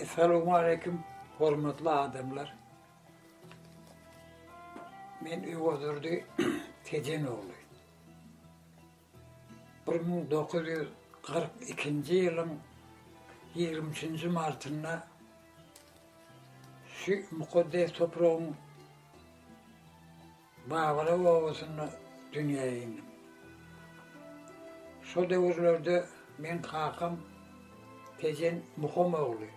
Essalamu aleyküm, hormatly adamlar. Men Öwazurdy Tejen ogly. 1942-nji ýylyň 20-nji martynda şu mukaddes topragyň Babala obasynda dünýä indim. Şo döwürlerde meň kakam Tejen Muham ogly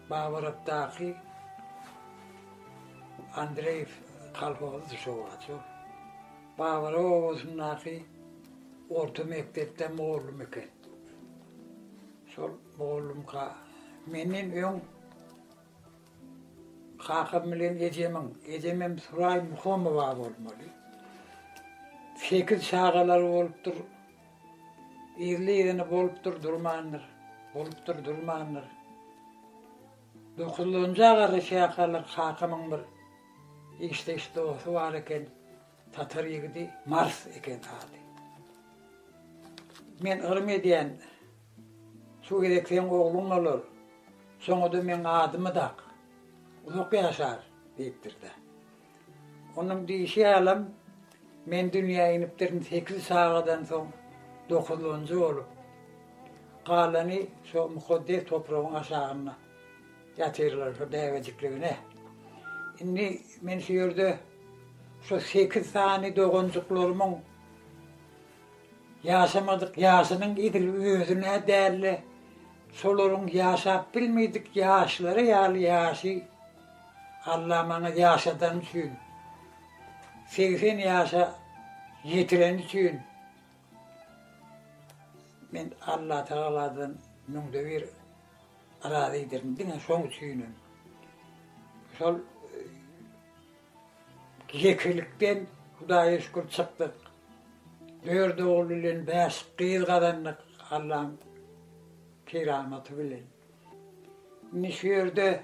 Babalakdaky Andreýew kolhozydy şo wagt şol. Babala obasyndaky orta mekdepde mugallym eken. Şol mugallymka menden öň Kakam bilen ejemiň, ejemem Suraý Muhamowa bolmaly. Sekiz çagalary bolupdyr. Irli-ýigini bolupdyr, durmandyr. Bolupdyr, durmandyr. Dokuzlanja garaşýarkalar kakamyň bir işdeş dosty bar eken, tatar ýigidi, Mars eken ady. Men yrym edýän. Şu gezek seň ogluň bolar, şoňa-da meň adymy dak, uzak ýaşar, diýipdir-de. Onuň diýşi ýalam, men dünýä inipdirin sekiz çagadan soň dokuzlanjy bolup, galany şo mukaddes topragyň aşagynda ýatyrlar, şo bäbejikligine. Indi men şu ýerde şo sekiz sany doganjyklarymyň. Ýaşamadyk ýaşynyň edil özüne däl-de, şolaryň ýaşap bilmedik ýaşlary ýaly ýaşy Alla maňa ýaşadany üçin, segsen ýaşa ýetireni üçin men Allatagaladan müňde bir razydyr. Diňe şoň üçinem. Şol Zekilikden Hudaýa şükür çykdyk. Dört ogul bilen bäş gyz gazandyk Allaň keramaty bilen. Indi şu ýerde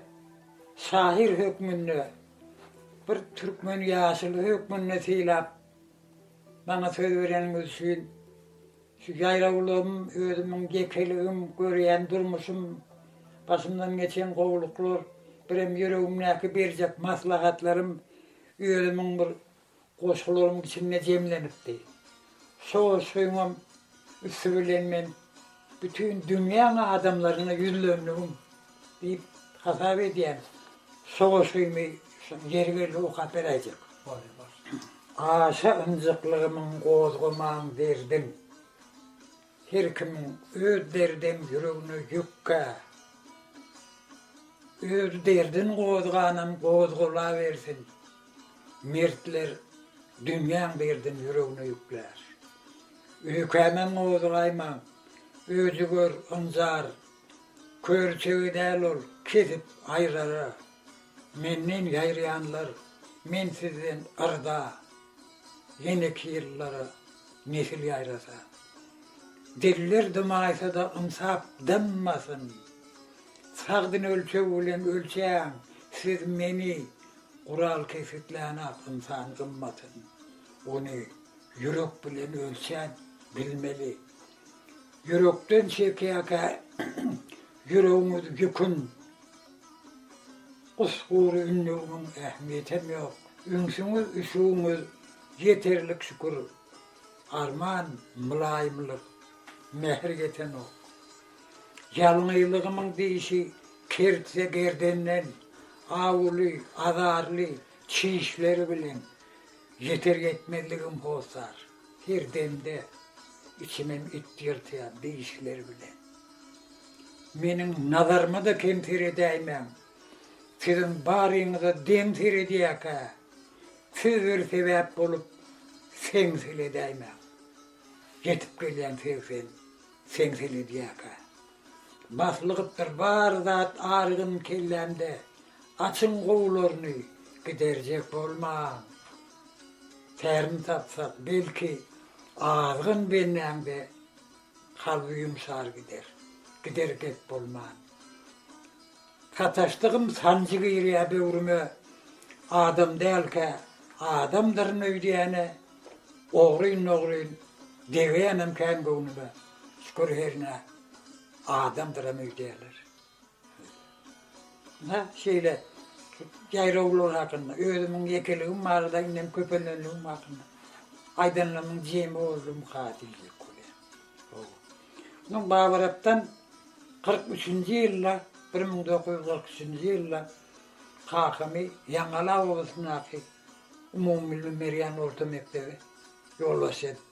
şahyr hökmünde, bir türkmen ýaşuly hökmünde sylap, maňa söz bereniňiz üçin Şu ýaýrawlygym, özümiň ýekeligim, görýän durmuşym, başymdan geçen gowulyklar, birem ýüregimdäki berjek maslahatlarym özümiň bir goşgularymyň içinde jemlenipdi. Şo goşgyňam üsti bilen men bütin dünýäň adamlaryna ýüzlendigim, Diýip hasap edýän sowaşgymy ýeri geldi okap beräýjek. Boldy bolsun. Aşa ynjyklygymyň gozgaman derdim. Her kimiň öz derdem ýüregine ýükkä. Öz derdin gozganam gozgalawersin. Mertler dünýäň derdin ýüregine ýüklär. Öýkämem gozgaýmaň. Özi gör ynjar Körçegi däl ol, kesip aýrara. Menden ýaýraýanlar, men sizden yrda. Ýeneki ýyllara nesil ýaýrasa. Diller dymaýsa-da ynsap dynmasyn. Sagdyn ölçeg bilen ölçäň siz meni, Gural kesgitlän-ak ynsan gymmatyn. Ony ýürek bilen ölçän bilmeli, Ýürekden çekýäkä ýüregiňiz ýükün Usgury ündewiniň ähmiýetem ýok Ünsüňiz üşügiňiz ýeterlik şükür Arman mylaýymlyk mähir ýetenok Ýalňyzlygymyň dişi kertse gerdenden Awuly azarly çişleri bilen ýeter ýetmezligim hossar. Her demde içimem it ýyrtýar dişleri bilen. Meniň nazaryma-da kem seredäýmäň. Siziň baryňyza deň seredýäkä, siz bir sebäp bolup seňseledäýmäň. Ýetip gelýän segsen seňseledýäkä. Baslygypdyr bar zat arygyn kellämde. Açyň gowularyny giderjek bolmaň. Tärini tapsak, belki, azgyn benäň-de kalby ýumşar gider. Gider gep bolman. Sataşdygym sanjy girýä böwrüme, Adam dälkä, adamdyryn öýdýäne, Ogryn-nogryn degýänem kän göwnüme, Şükür hernä, adamdyram öýdýäler. Hä, şeýle. Jaýrawlar hakynda, özümiň ýekeligim barada, indem köpelenligim hakynda aýdanlarymyň jemi boldumyka diýjek bolýan. Hawa. Munuň babarapdan kyrk üçünji ýylda, bir müň dokuz ýüz kyrk üçünji ýylda kakamy Ýaňala obasyndaky umumybilimi berýän orta mekdebe ýolbaşçy edip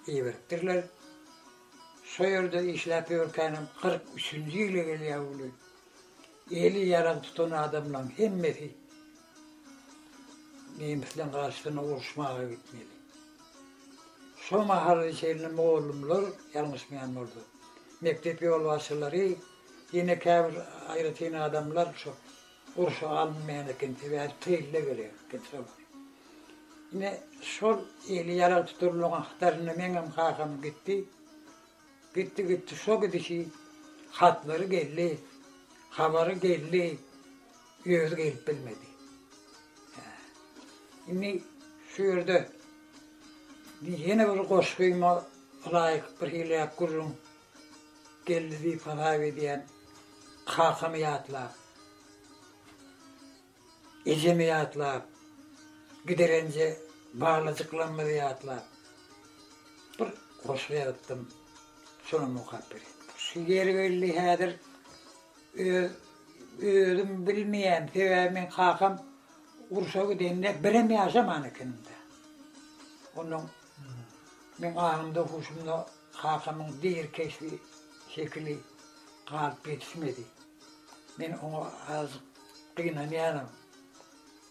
iberipdirler. Şo ýerde işläp ýörkänem kyrk üçünji ýyly gelýär uly. Eli ýaragy tutan adamlaryň hemmesi nemisleriň garşysyna uruşmaga gitmeli. Şo mahala çenli mugallymlar, ýalňyşmaýan bolsam, mekdep ýolbaşçylary, ýene käbir aýratyn adamlar şo Gurşun alynmaýan eken, sebäbi tylla gerek eken şol. Ine, şol eli ýarag tutulmagyň hatarynda meňem kakam gitdi. Gitdi, gitdi, şo gidişi hatlary geldi, habary geldi, özi gelip bilmedi. Hä. Indi şu ýerde ýene bir goşgyma ylaýyk birhili gürrüň Geldi diýip hasap edýän kakamy ýatlap, ejemi ýatlap, giderence balajyklarymyzy ýatlap bir goşgy ýazypdym, şonam okap berýin. Şu ýeri belli häzir öz özüm bilmeýän, sebäbi meň kakam urşa gidende birem ýaşaman ekeniň-dä. Onnoň Meň aňymda-huşumda kakamyň deýr keşbi şekili galyp ýetişmedi. Men oňa azajyk gynanýanam.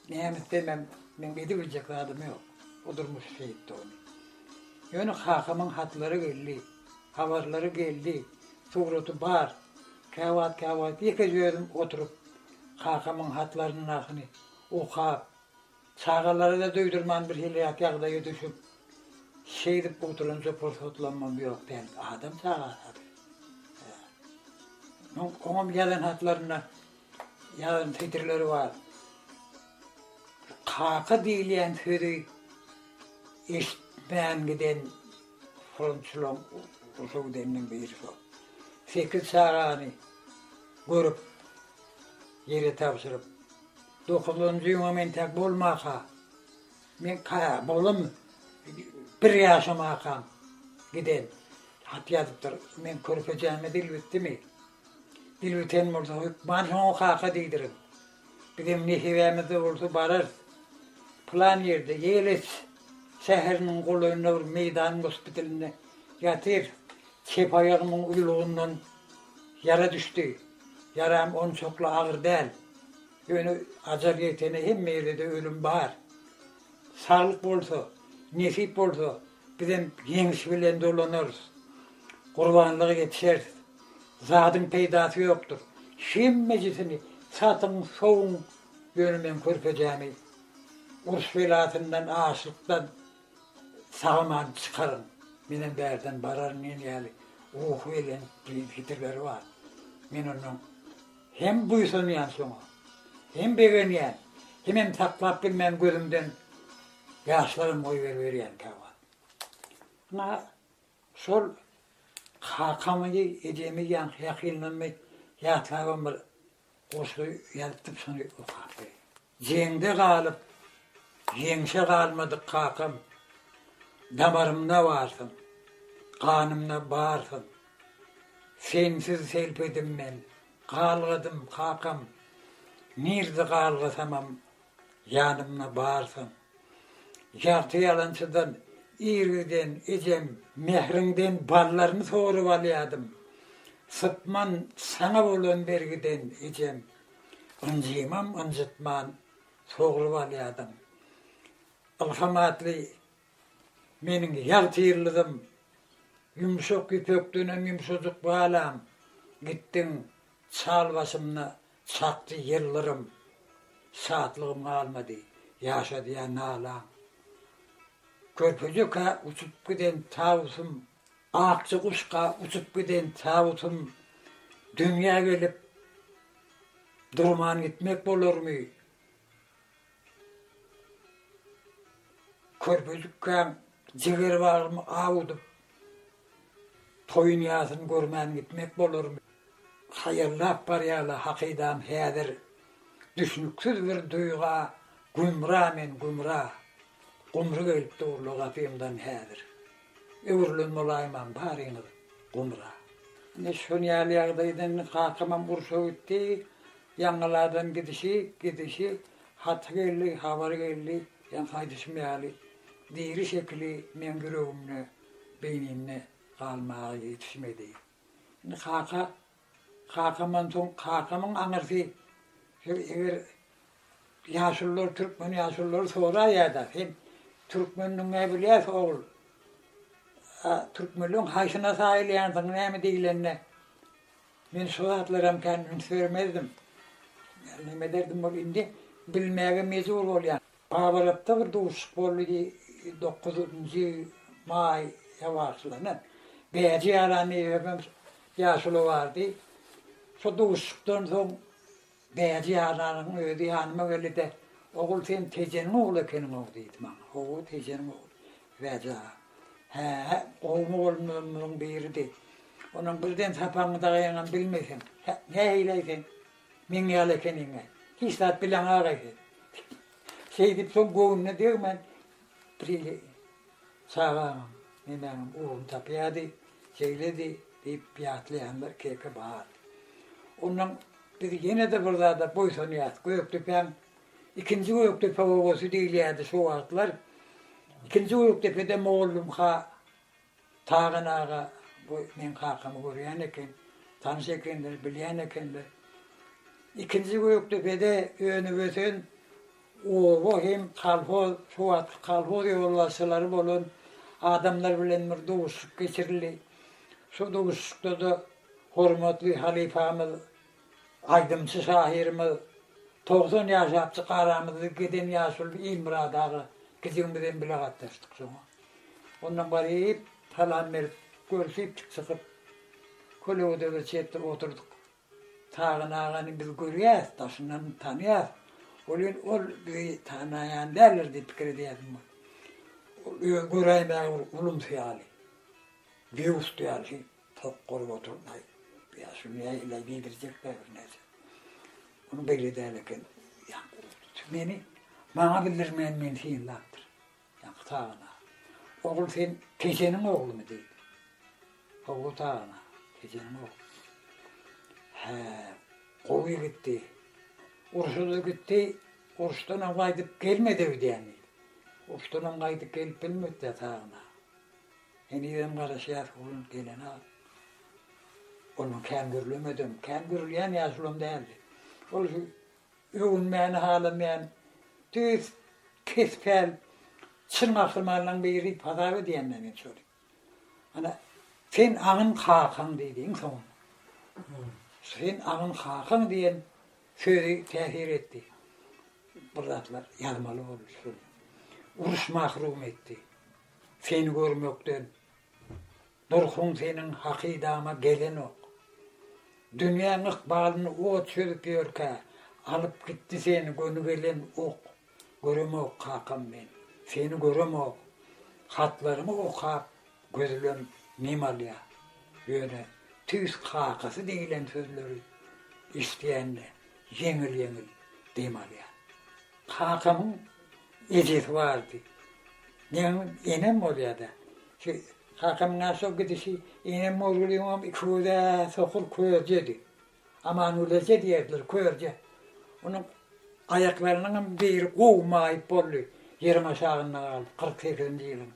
Näme etsem-ä meň edibiljek zadym ýok. Bu durmuş şeýtdi ony. Ýöne kakamyň hatlary geldi, habarlary geldi, suraty bar. Käwagt-käwagt ýekeje özüm oturyp kakamyň hatlaryndakyny okap, Çagalara-da duýdurman birhiliräk ýagdaýa düşüp, şeýdip gutulanja pursatlamam ýok däl. Adam çagasa bir. Hä. Oňam ýazan hatlarynda ýazan setirleri bar. Kaka diýilýän sözi eşitmän giden frontçylaň uza gideninden biri şol. Sekiz çagany görüp, ýere tabşyryp, Dokuzynjy ýyňam entek bolmasa, meň oglum bir ýaşamakam giden. Hat ýazypdyr. Meň körpejäme dil bitdimi? Dil biten bolsa, hökman şoňa kaka diýdirin. Bizem nesibämizde bolsa bararys. Pylan ýerde, Ýeles şäheriniň golaýynda bir meýdan gospitalynda ýatyr. Çep aýagymyň uýlugyndan ýara düşdi. Ýaram onçakly agyr däl. Ýöne ajal ýetene hemme ýerde-de ölüm bar. Saglyk bolsa, nesip bolsa, bizem ýeňiş bilen dolanarys. Gurbanlyga ýetişeris. Zadyň peýdasy ýokdur. Hemmejisini satyň, sowuň, ýöne men körpejämi uruş belasyndan, açlykdan Samany çykaryn, menem bärden bararyn diýen ýaly ruhy belent pikirleri bar. Men ondan hem buýsanýan şoňa, hem begenýän, hemem saklap bilmän gözümden ýaşlaram goýberiberýän käwagt. Ynha, şol kakamy, ejemi ýaňky ýakynlarmy ýatlabam bir goşgy ýazypdym, şony okap berýän. Jeňde galyp, ýeňşe galmadyk kakam, Damarymda barsyň, ganymda barsyň. Sensiz selpedim men, galgadym, kakam, Nirde galgasamam, ýanymda barsyň. Ýagty ýalançydan ir giden ejem, Mähriňden ballaryny sorup alýadym, Sypman saňa bolan bergiden ejem. Ynjymam ynjytman soglap alýardym. Ylham atly meniň ýagtyýyldyzym, ýumşak ýüpekdenem ýumşajyk balam, gitdiň, çal başymda çakdy ýyldyrym. Şatlygym galmady, ýaşadýa nalaň. Körpejekä uçup giden tawusym Akja guşga uçup giden tabytym dünýä gelip durman gitmek bolarmy? Körpejikkäň jiger bagymy awudyp, toýun ýasyny görmän gitmek bolarmy? Haýallap barýarla hakydam häzir düşnüksiz bir duýga gümra men gümra gumry gelip durla gapymdan häzir. Öwrülen bolaýmam baryňyz gumra. Ine şon ýaly ýagdaýdan indi kakamam urşa gitdi. Ýaňyl adam gidişi, gidişi, haty geldi, habary geldi. Ýaňky aýdyşym ýaly, diri şekili meň ýüregimde, beýnimde galmaga ýetişmedi. Indi kaka Kakamdan soň kakamyň aňyrsy şol eger ýaşulular türkmen ýaşululary soraýada sen türkmen diňe bilýäs ogul a türkmenleň haýsyna saýylýansyň näme diýilende men şo zatlaram kän üns bermezdim. Näme ederdim ol indi bilmäge mejbur bolýan. Gabalakda bir duşuşyk boldy diý, dokuzynjy maý ýawaşlana Bäji Ýaranneýewem hem ýaşuly bardy. Şo duşuşykdan soň Bäji Ýaranyň özi ýanyma geldi-de, Ogul, sen Tejeniň ogly ekeniň-ow diýdi maňa. Hawa, Tejeniň ogly, Bäji aga. Hä-ä, gowy mugallymlarymyzyň biridi. Onuň birden sapagyňy dagaýaňam bilmeseň, nähili-aý sen? Meň ýaly ekeniň-ä. Hiç zat bileň agaýdy. Şeýdip soň göwnüne degmän Prili çagaňam, nemäňem ugruny tapýardy, şeýledi diýip ýatlaýanlar keke bar. Onnoň biz ýene-de bir zada boýsanýas. Gökdepäň ikinji Gökdepe obasy diýilýärdi şo wagtlar. Ikinji Gökdepede mugallymha Tagan aga bu meň kakamy görýän eken, tanyş ekenler, bilýän ekenler. Ikinji gökde bede önüp-ösen oba hem kolhoz, şo wagtky kolhoz ýolbaşçylary bolan adamlar bilen bir duşuşyk geçirildi. Şo duşuşykda-da hormatly halypamyz, aýdymçy şahyrymyz, togsan ýaşapjyk aramyzda giden ýaşuly Ilmyrat aga gijigimizem bile gatnaşdyk şoňa. Ondan baryp, salam berip, görşüpdik çykyp. Kölegedere çetde oturdyk. Tagan agany biz görýäs, daşyndan tanýas. Welin, ol bizi tanaýan däldir diýip pikir edýädim. Ol özi göräýmäge bir ulumsy ýaly, býust ýaly tok bolup oturyp, aý, ýa şuny ýa ýyla geýdirjekler birnäçe. Ony beýle däl eken. Meni maňa bildirmän meni synlapdyr. Ýaňky tagana. Ogul sen Tejeniň oglumy? diýdi. Ogul tagana. Tejeniň ogly. Hä, gowy ýigitdi. Urşa-da gitdi, urşdanam gaýdyp gelmedi öýdýän. Urşdanam gaýdyp gelip bilmedi-dä tagana. Henizem garaşýas onuň gelene. Onuň kän gürlemedem, kän gürleýän ýaşulam däldi. Ol Öwünmäni halamaýan düýs kes-päl çyn gahrymanlaryň biri hasap edýän-dä men şony. Ana, sen aňyň kakaň diýdi iň soňunda. Sen aňyň kakaň diýen sözi täsir etdi. Bir zatlar ýazmaly boldy şony. Uruş mahrum etdi. Seni görmekden Dursun seniň hakydaňa gelenok. Dünýäň ykbalyny ot çözüp ýörkä, alyp gitdi seni göni gelen ok. Göremok kakam men, seni göremok. Hatlaryňy okap, gözlem nem alýar. Ýöne tüýs kakasy diýlen sözleri eşidýände ýeňil-ýeňil dem alýar. Kakamyň ejesi bardy. Meň enem bolýardy. Şi kakamyň naçe gidişi enem ogluňam iki göze sokur körjedi. Amanguly eje diýerdiler körje. Onuň aýaklarynyňam biri gowy maýyp boldy. Ýeriň aşagynda galdy. Kyrk sekizinji ýylyň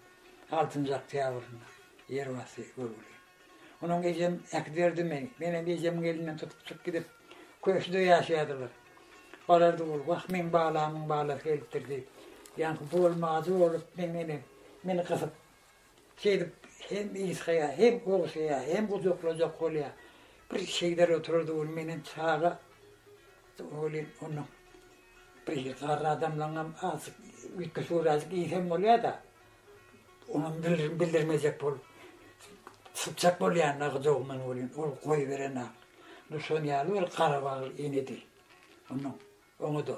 altynjy oktýabrynda ýer basdy göwreli. Onuň ejem äkiderdi-mi? Menem ejemiň elinden tutup çyk gidip, köşkde ýaşaýardylar. Balar dogul, wah, meň balamyň balasy gelipdir diýip, ýaňky bolma ajy bolup, meň enem meni gysyp, şeýdip hem ysgaýar, hem ogşaýar, hem gujaklajak bolýar. Bir şeýder oturardy welin, menem çaga welin, onuň bir garry adamlaryňam azajyk üýtgeşik öwrazjik iýsem bolýar-da. Onuň dilini bildirmejek bolup, sypjak bolýan-da gyjagymdan welin, ol goýberen-ä. Duşan ýaly bir garabagly enedi. Onuň oňa-da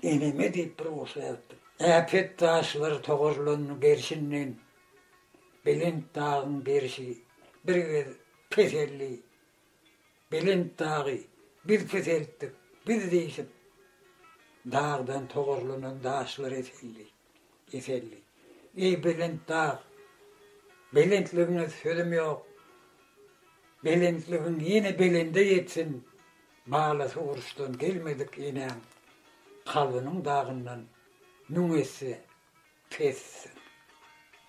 Eneme diýip bir goşgy ýazypdym. Äpet daşlar togarlan gerşinden belent dagyň gerşi bir gez peseldi. Belent dagy biz peseltdik, biz diýşip, dagdan togarlanan daşlar eseldi, eseldi. Eý, belent dag, belentligiňe sözüm ýok, belentligiň ýene belende ýetsin, balasy uruşdan gelmedik enäň kalbynyň dagyndan müň esse Pes sen.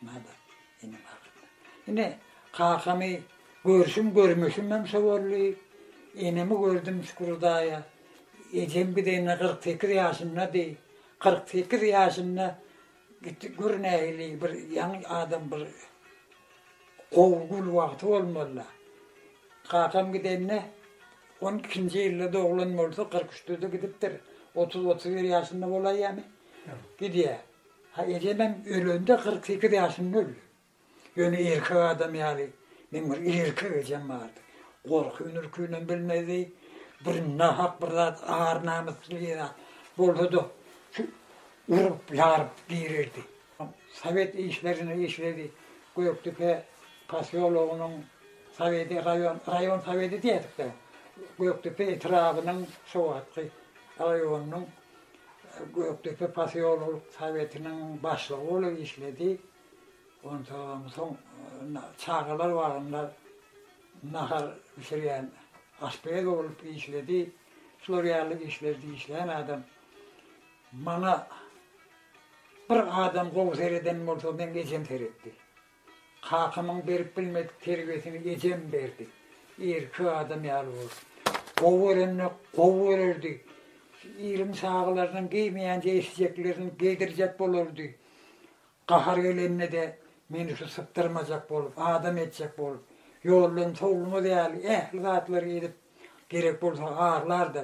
Nada iniň agzyna. Ine, kakamy görşüm görmüşimem şo boldy. Enemi gördüm şükür Hudaýa. Ejem gidende kyrk sekiz ýaşyndady. Kyrk sekiz ýaşynda gitdi. Gör nähili bir ýaňy adam bir gowy gül wagty bolmaly-la. Kakam gidende on ikinji ýylda doglan bolsa kyrk üçde-de gidipdir. Otuz, otuz bir ýaşynda bolaýýamy? Gidýär. Ha ejemem ölende kyrk sekiz ýaşynda öldi. Ýöne erkek adam ýaly meň bir erkek ejem bardy. Gorky-ürkinem bilmezdi. Bir nahak bir zat ar-namys diýen zat bolsa-da şu urup, ýaryp girerdi. Sowet işlerinde işledi. Gökdepe posýologynyň soweti, raýon, raýon soweti diýerdik-de. Gökdepe etrabynyň şu wagtky raýonynyň Gökdepe posýololyk sowetiniň başlygy bolup işledi. Onsoňam soň çagalar bagynda nahar bişirýän aşpez bolup işledi. Şular ýaly işlerde işleýän adam. Maňa bir adam gowy sereden bolsa, meň ejem seretdi. Kakamyň berip bilmedik terbiýesini ejem berdi. Erkek adam ýaly bol. Gowy görende gowy görerdi. Iliň çagalarynyň geýmeýänçä eşjeklerini geýdirjek bolardy. Gahary gelende-de meni şu sypdyrmajak bolup, adam etjek bolup, ýoldan sowulmaz ýaly ähli zatlary edip, gerek bolsa arlardy.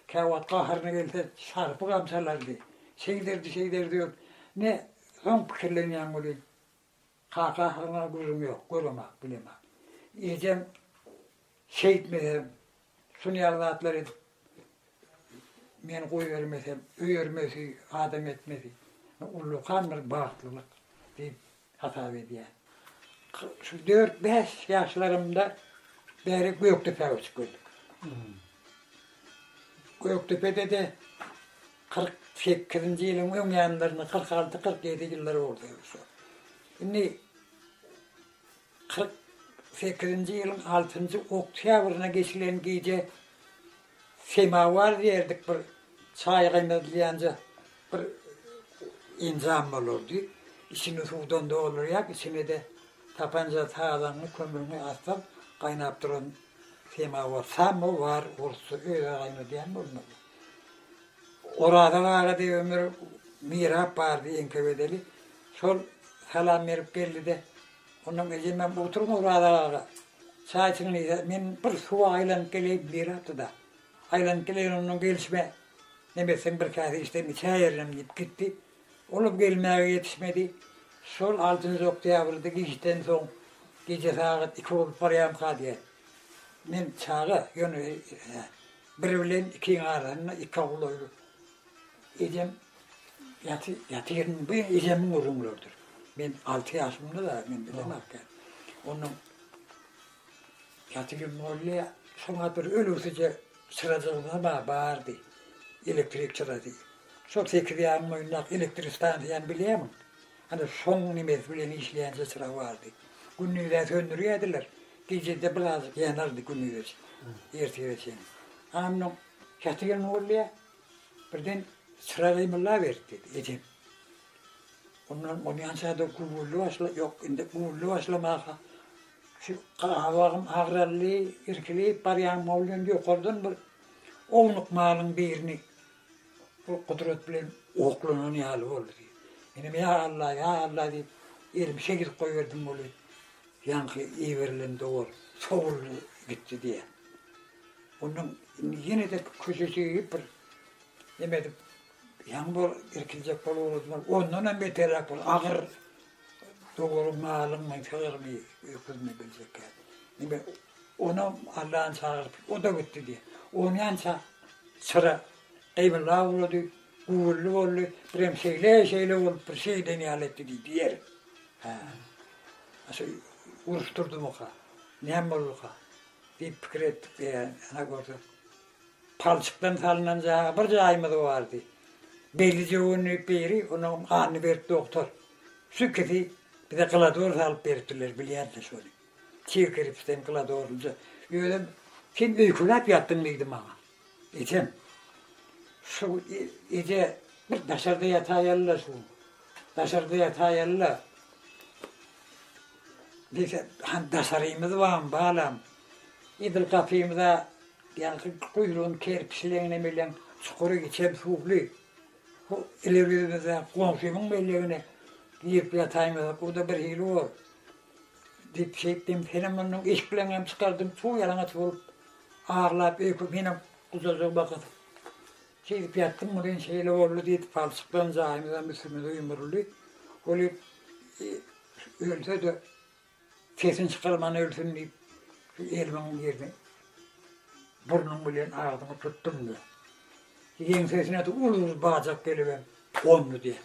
Käwagt gaharyna gelse şarpy gamsalardy. Şeýderdi-şeýderdi ýör. Ne soň pikirlenýäň welin, Kaka ahyryňa gözüm ýok, göremok, bilemok. Ejem şeýtmesem, şuny ýaly zatlar edip, meni goýbermesem, öýermesi, adam etmesi, ullakan bir bagtlylyk diýip hasap edýän. Şu dört-bäş ýaşlarymda bäri Gökdepä göçüp geldik. Gökdepede-de Kyrk sekizinji ýylyň öň ýanlarynda kyrk alty, kyrk ýedi ýyllary boldy şu. Indi kyrk sekizinji ýylyň altynjy oktýabryna geçilen gije semawar diýerdik bir çaý gaýnadylýanja bir enjam bolardy. Içini suwdan doldurýar, içine-de tapanja tazaňňy, kömrüňi assaň gaýnap duran semawar, samowar, orsça özi gaýnadýan bolmaly. Oraza barada ömür mirap bardy eňke bedeli. Şol salam berip geldi-de, ondan ejemem oturma Oraza aga, çaý içiň diýse, men bir suwa aýlanyp geleýin diýrapdy-da, aýlanyp geleýin, ondan gelşime, neme etseň bir käse içsem içäýerinem diýip gitdi. Olam gelmäge ýetişmedi. Şol altynjy oktýabrda giçden soň gije sagat iki bolup barýamyka diýýär. Men çaga, ýöne Bir bilen ikiň arasynda iki ogul öýlüp, ejem ýaty, ýaty ýerinde, bu ejemiň gürrüňleridir. Men alty ýaşymda-da, men bilemokkä. Onuň ýaty ýerinde boldy, şoňa bir ölüsije çyrajygymyz bar, bardy, elektrik çyrajy. Şol sekiz ýarym boýundaky elektrik stansiýany bilýärmiň? Ana, soň nimesi bilen işleýänçä çyrag bardy. Gündiz-ä söndürýärdiler, gije-de birazajyk ýanardy gündize çenli, ertire çenli. Ana, munuň çaty ýyl nurlaýar, birden çyrag gymyllaberdi, diýdi ejem. Ondan ony ýançada güwwüldä başlady, ýok, indi güwwüldä başlamaka, şu gabagym agraldy, irkilip barýan boldum, ýokardan bir ownuk malyň birini Ol gudrat bilen oklanan ýaly boldy diýip. Menem ýa Alla, ýa Alla diýip, elimi çekilip goýberdim weli, ýaňky iberilen dowul sowuldy gitdi diýýär. Ondan indi ýene-de köçe çygyp bir neme edip, ýaňy bir irkiljek bolup ugradylar. Ondan hem beterräk bir agyr dowulyň malyň, sygyrmy, öküzmi biljekkä. Indi Onam Allany çagyryp, o-da gitdi diýýär. Onýança çyra gybla ulady, güwürli boldy, birem şeýle-şeýle bolup, bir şey eden ýaly etdi diýip diýer. Hä. Şeý uruşdurdymyka, näme bolduka diýip pikir etdik diýýär. Ana görse, palçykdan salnan jaýy bir jaýymyz bardy. Belli jöwenlik biri, onuň ganyny berip doktor. Şu ikisi bize glodol salyp beripdirler, bilýäris-de şony. Tiz girip sen kladornja özem sen öýkeläp ýatdyň diýdi maňa. Ejem, şu eje bir daşarda ýataýal-la şu, daşarda ýataýal-la. Biz han daşarymyz bam balam. Edil gapymyza ýaňky guýrugyny kerip sileň nemeleň çukury içem suwly. Bu ileri ýüzümizde goňşymyň mellegine girip ýataýmasak o-da birhili bor. Diýip şeýtdim. Senem mundan iş bilen hem çykardym. Suw ýalaňaç bolup, aglap, öýke menem gujaja bakyp, seýdip ýatdym. Muny indi şeýle boldy diýdi. Palçyklan jaýymyzam üstümize ýumruldy. Ol ölse-de, sesini çykarman ölsün diýip, şu elimiň ýerini burnum bilen agzymy tutdum-da, ýeňsesine-de ululy bajak gelibem gondy diýýär.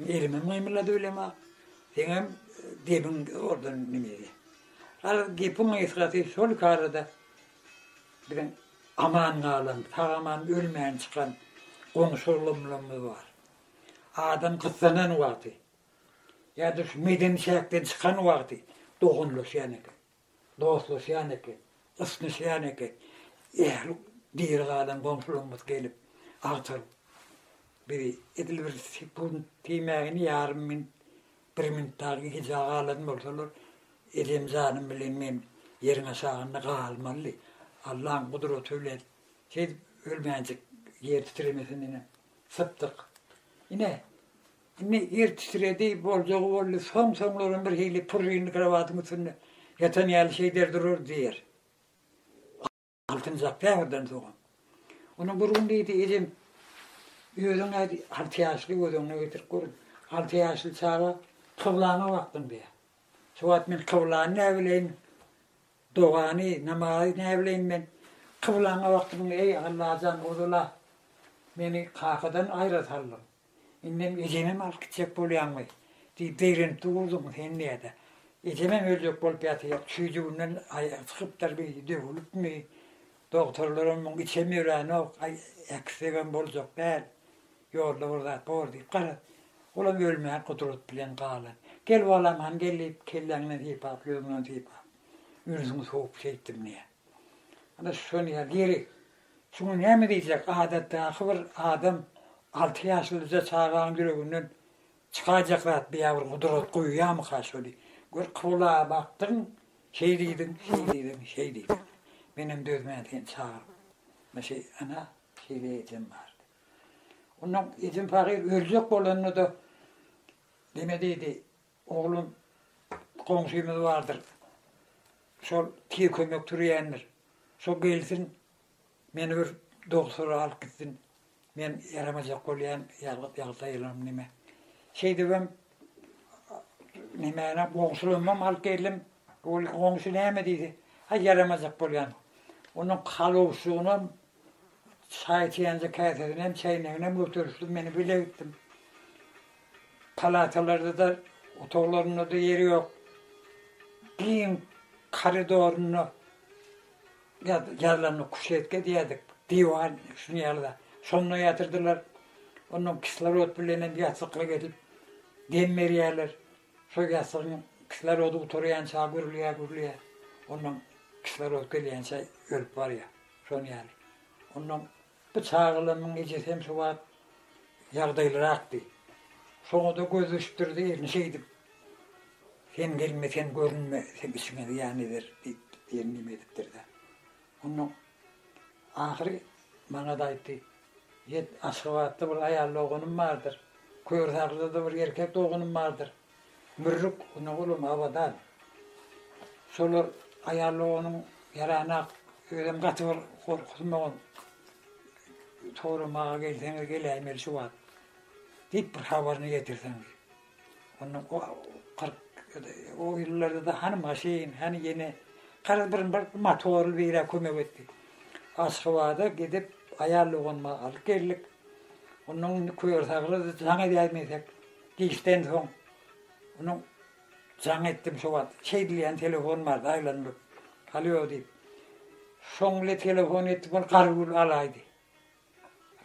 Elimem gymyldady bilema. Seňem gebiň ordan nimedi. Al gepiň gysgasy şol karada biziň aman galan, sag-aman ölmän çykan goňşy-golamlarymyz bar. Adam gyssanan wagty ýa-da şu medeni çäkden çykan wagty doganlaşýan eken. dostlaşýan eken, ysnyşýan eken. Ähli diri galan goňşularymyz gelip, agtaryp, bizi edil bir sekunt diýmägini ýarym minut, bir minut dagy gijä galan bolsalar, ejem janym bilen men ýeriň aşagynda galmalydy. Allaň gudraty bilen siz ölmänjik ýer titremesinden hem sypdyk. Ine, Indi ýer titredi, boljagy boldy, soň-soňlaram birhili purrynly krowatyň üstünde ýatan ýaly şeýder durar diýer. Altynjak käbirden soňam. Onam bir gün diýdi, Ejem, özüň aýt, alty ýaşly, göz öňüne getirip gör, alty ýaşly çaga kyblana bakdym diýýär. Şu wagt men kyblany näbileýin, dogany, namazy näbileýin men. Kyblana bakdym, eý, Allajan, ozal-a meni kakadan aýra saldyň. Indem ejemem alyp gitjek bolýaňmy? diýip zeýrenip durduň sen nädä? Ejemem öljek bolup ýatyr, çüýjüginden aýagy çykypdyrmy, döwülipmi? Dogtorlaram muň içem ýörenok, aý, äkitsegem boljak däl, ýolda bir zat bor diýip gara. Olam ölmän gudrat bilen galan. Gel balam, hany gel diýip, kelläňden sypap, ýüzüňden sypap, ünsiňi sowup şeýtdim diýýär. Ana şuny ýaly ýerik. Şuňa näme diýjek, adatdaky bir adam alty ýaşlyja çagaň ýüreginden çykajak zat biýa bir gudrat goýýamyka şony. Gör Kybla bakdyň, şeý diýdiň, şeý diýdiň, şeý diýdiň. Menem dözmän seni çagyryp. Myşy, ana, şeýle ejem bardy. Onnoň ejem pahyr öljek bolanda-da neme diýdi, Oglum goňşymyz bardyr. Şol tiz kömek türýändir. Şo gelsin, meni bir dogsura alyp gitsin. Men ýaramajak bolýan, ýalňyp ýagtaýylanam neme. Şeýdibem nemäni goňşulamam alyp geldim. Ol goňşy näme diýdi? Aý ýaramajak bolýan. Onuň kalawşygynam Çaý içýänçä käsesinem, çäýneginem göterişdim, men bile gitdim. Palatalarda-da, otaglarynda-da ýeri ýok. Giň koridorynda ýazylanda kuşetka diýerdik, diwan şuny ýaly-da. Şonda ýatyrdylar. Ondan kislorod bilenem ýassyklyk edip dem berýärler. Şo ýassygyň kislorody gutarýança gürleýär, gürleýär. Ondan kislorod gelýänçä ölüp barýar. Şon ýaly. Onnoň bu çagalamyň ejesi hem şo wagt ýagdaýlyrakdy. Şoňa-da göz düşüpdirdi, elini şeýdip, Sen gelme, sen görünme, seň işiňe zyýan eder diýip, diýen neme edipdir-dä. Onnoň ahyry maňa-da aýtdy, Ýet, Aşgabatda bir aýal doganym bardyr. Körsaglyda-da bir erkek doganym bardyr. Mürrük, Ynagulum, Abadan. Şolar aýaly onuň ýaranak, özem gaty bir gorkusy maňa soramaga gelseňiz geläýmeli şu wagt diýip bir habaryny getirseň diýip. Onda o kyrk o ýyllarda-da hany maşyn, hany ýene garaz bir bir motorly bire kömek etdi. Aşgabada gidip aýal doganma alyp geldik. Ondan indi köri-sagry jaň edäýmesek. Giçden soň onuň jaň etdim şo wagt. Çeý diýýän telefon bardy aýlanylyp. Alýo diýip. Şoň ile telefon etdim ol Garygül alaýdy.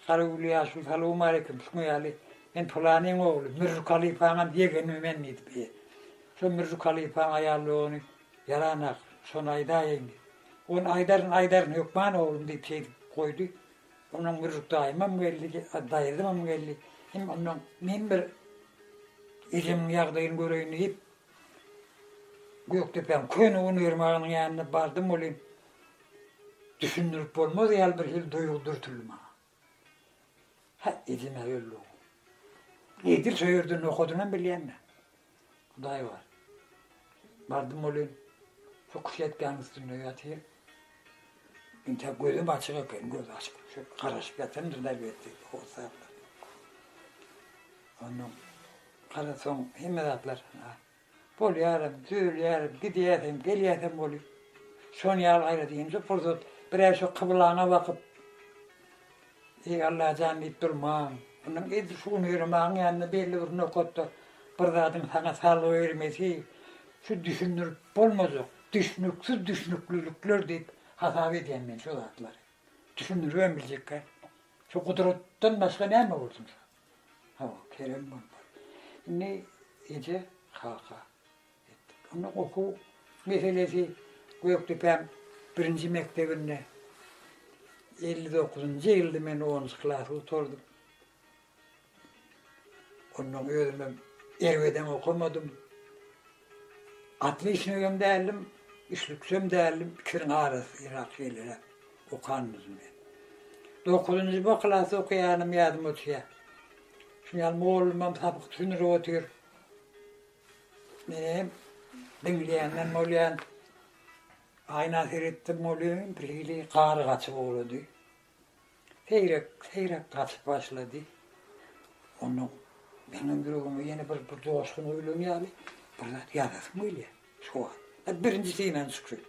Garygül ýaşuly salowmaleýkim şuňa ýaly men pylanyň ogly Mürjük halypaňam ýegeni men diýip. Şo Mürjük halypaň aýaly ony ýaranak şony aýdaýaýyň diýip. Ony aýdaryn aýdaryn hökman oglum diýip şeýdip goýdy. Ondan Gürjük daýymam geldi, daýzamam geldi. Hem ondan men bir ejemiň ýagdaýyny göreýin diýip, Gökdepäň köne un ermagynyň ýanyna bardym welin, düşündirip bolmaz ýaly bir hil duýgy dürtüldi maňa. Hä, ejem-ä öldü-ow. Edil şo ýerde nohadynam bilýän-dä. Hudaý bar. Bardym welin, şu kuşetkäniň üstünde ýatyr. Entek gözüm açyk eken, göz açyp, şu garaşyp ýatandyr daýy belki, hossaplar. Ondan garasaň, hemme zatlar bolýaram, düzelýärin, gidýäsem, gelýäsem bolýar. Şony ýaly gaýrat, indi pursat, bir-ä şu kyblaňa bakyp, Eý Allajan diýip durmaň. Munuň edil şu gün Öremägiň ýanynda belli bir nokatda bir zadyň saňa salgy bermesi şu düşündirip bolmajak, düşnüksiz düşnüklilikler diýip hasap edýän men şu zatlary. Düşündiribem biljekkä. Şu gudratdan başga näme bolsun şu. Hawa, Kerem bolmaz. Indi eje, kaka. Onda okuw meselesi Gökdepäň birinji mekdebinde elli dokuzynjy ýylda men onunjy klasy gutardym. Ondan özümem erbedem okamadym. Otliçnigem däldim, üçlüksem däldim, ikisiniň arasyrak şeýleräk okandym men. Dokuzynjy B klasda okaýanym ýadyma düşýär. Şuňa ýaly mollumam sapak düşündirip otyr. Menem diňleýänden bolýan aýna seretdim welin birhili gary gaçyp ugrady. Seýrek, seýrek gaçyp başlady. Onda meniň ýüregime ýene bir bir joşgun öýlen ýaly bir zat ýazasym gelýär. Şu wagt birinji synany çykýar.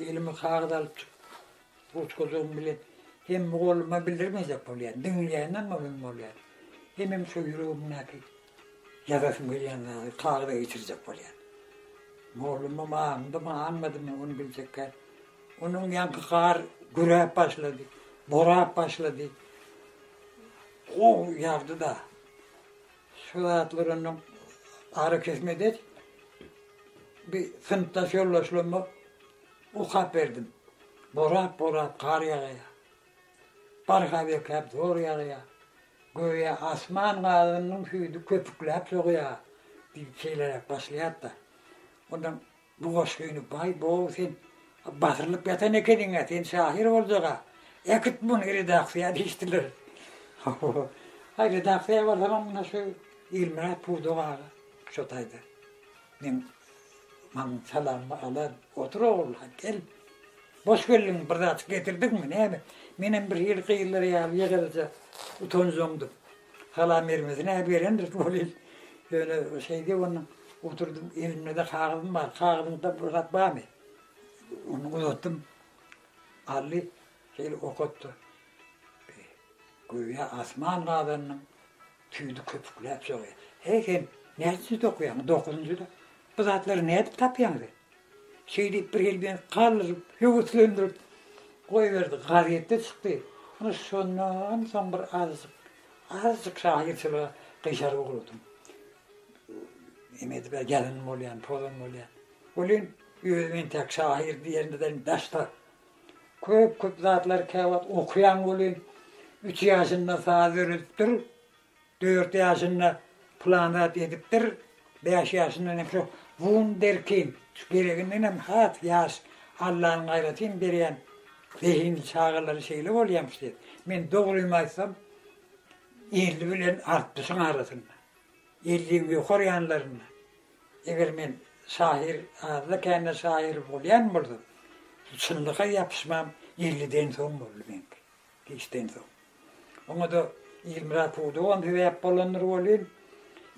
Elime kagyz alyp çykyp ruçkajygym bilen hem mugallymma bildirmejek bolýan, diňleýänden bolýan bolýan. Hemem şu ýüregimdäki Ýazasym gelýän zady talyba geçirjek bolýan. Mollumam aňdymy, aňmadymy ony biljekkä. Onuň ýaňky gar güräp başlady, borap başlady. Goh ýagdy-da. Şu zatlar onuň arakesmede bir synpdaş ýoldaşlaryma okap berdim. Borap-borap gar ýagýar. Barha bekäp zor ýagýar. Göýä asman gazynyň süýdi köpükläp sogýar diýip şeýleräk başlaýar-da, onda bu goşgyny Baý Bow sen basyrylyp ýatan ekeniň-ä, sen şahyr boljag-a, äkit muny redaksiýa diýişdiler. Haý, redaksiýa barsamam, ine şu Ilmyrat pudak aga şo taýda. Men maňa salamymy alan, Otur ogurlan, gel. Boş geldiňmi, bir zat getirdiňmi, näme? Menem birhili gyzlar ýaly ýekereje utanjaňdyp, salam bermesine-ä berendir welin, ýöne şeýdip onuň oturdym, elimde-de kagyzym bar, kagyzyňda bir zat barmy? Ony uzatdym. Aldy, şeýdip okatdy. Göýä asman gazandyň. Tüýdi köpükläp soraýar. Heý, sen näçe jüz okaýaň? Dokuzynjy jüz. Bu zatlary nädip tapýaňyz? Şeý diýip, bir hili meni galdyryp, höweslendirip goýberdi. Gazetde çykdy. Ine, şondan soň bir azajyk, azajyk şahyrçylyga gyşarg ugradym. Eme edip, ýazanam bolýar, pozam bolýar. Welin, özüm entäk şahyr diýerimizden daşda. Köp köp zatlar käwagt okaýan welin üç ýaşynda saz öwredipdir, dört ýaşynda plan zat edipdir, bäş ýaşyndan hem şu wunderkind şu gereginden hem has ýaş Allanyň aýratyn berýän zehinli çagalary şeýle bolýamyş diýip. Men dogrymy aýtsam elli bilen altmyşyň arasynda. Elligiň ýokary ýanlarynda, eger men şahyr, azda-kände şahyr bolýan bolsam, çynlyga ýapyşmam elliden soň boldy meňki, giçden soň. Oňa-da Ilmyrat pudagam sebäp bolandyr welin,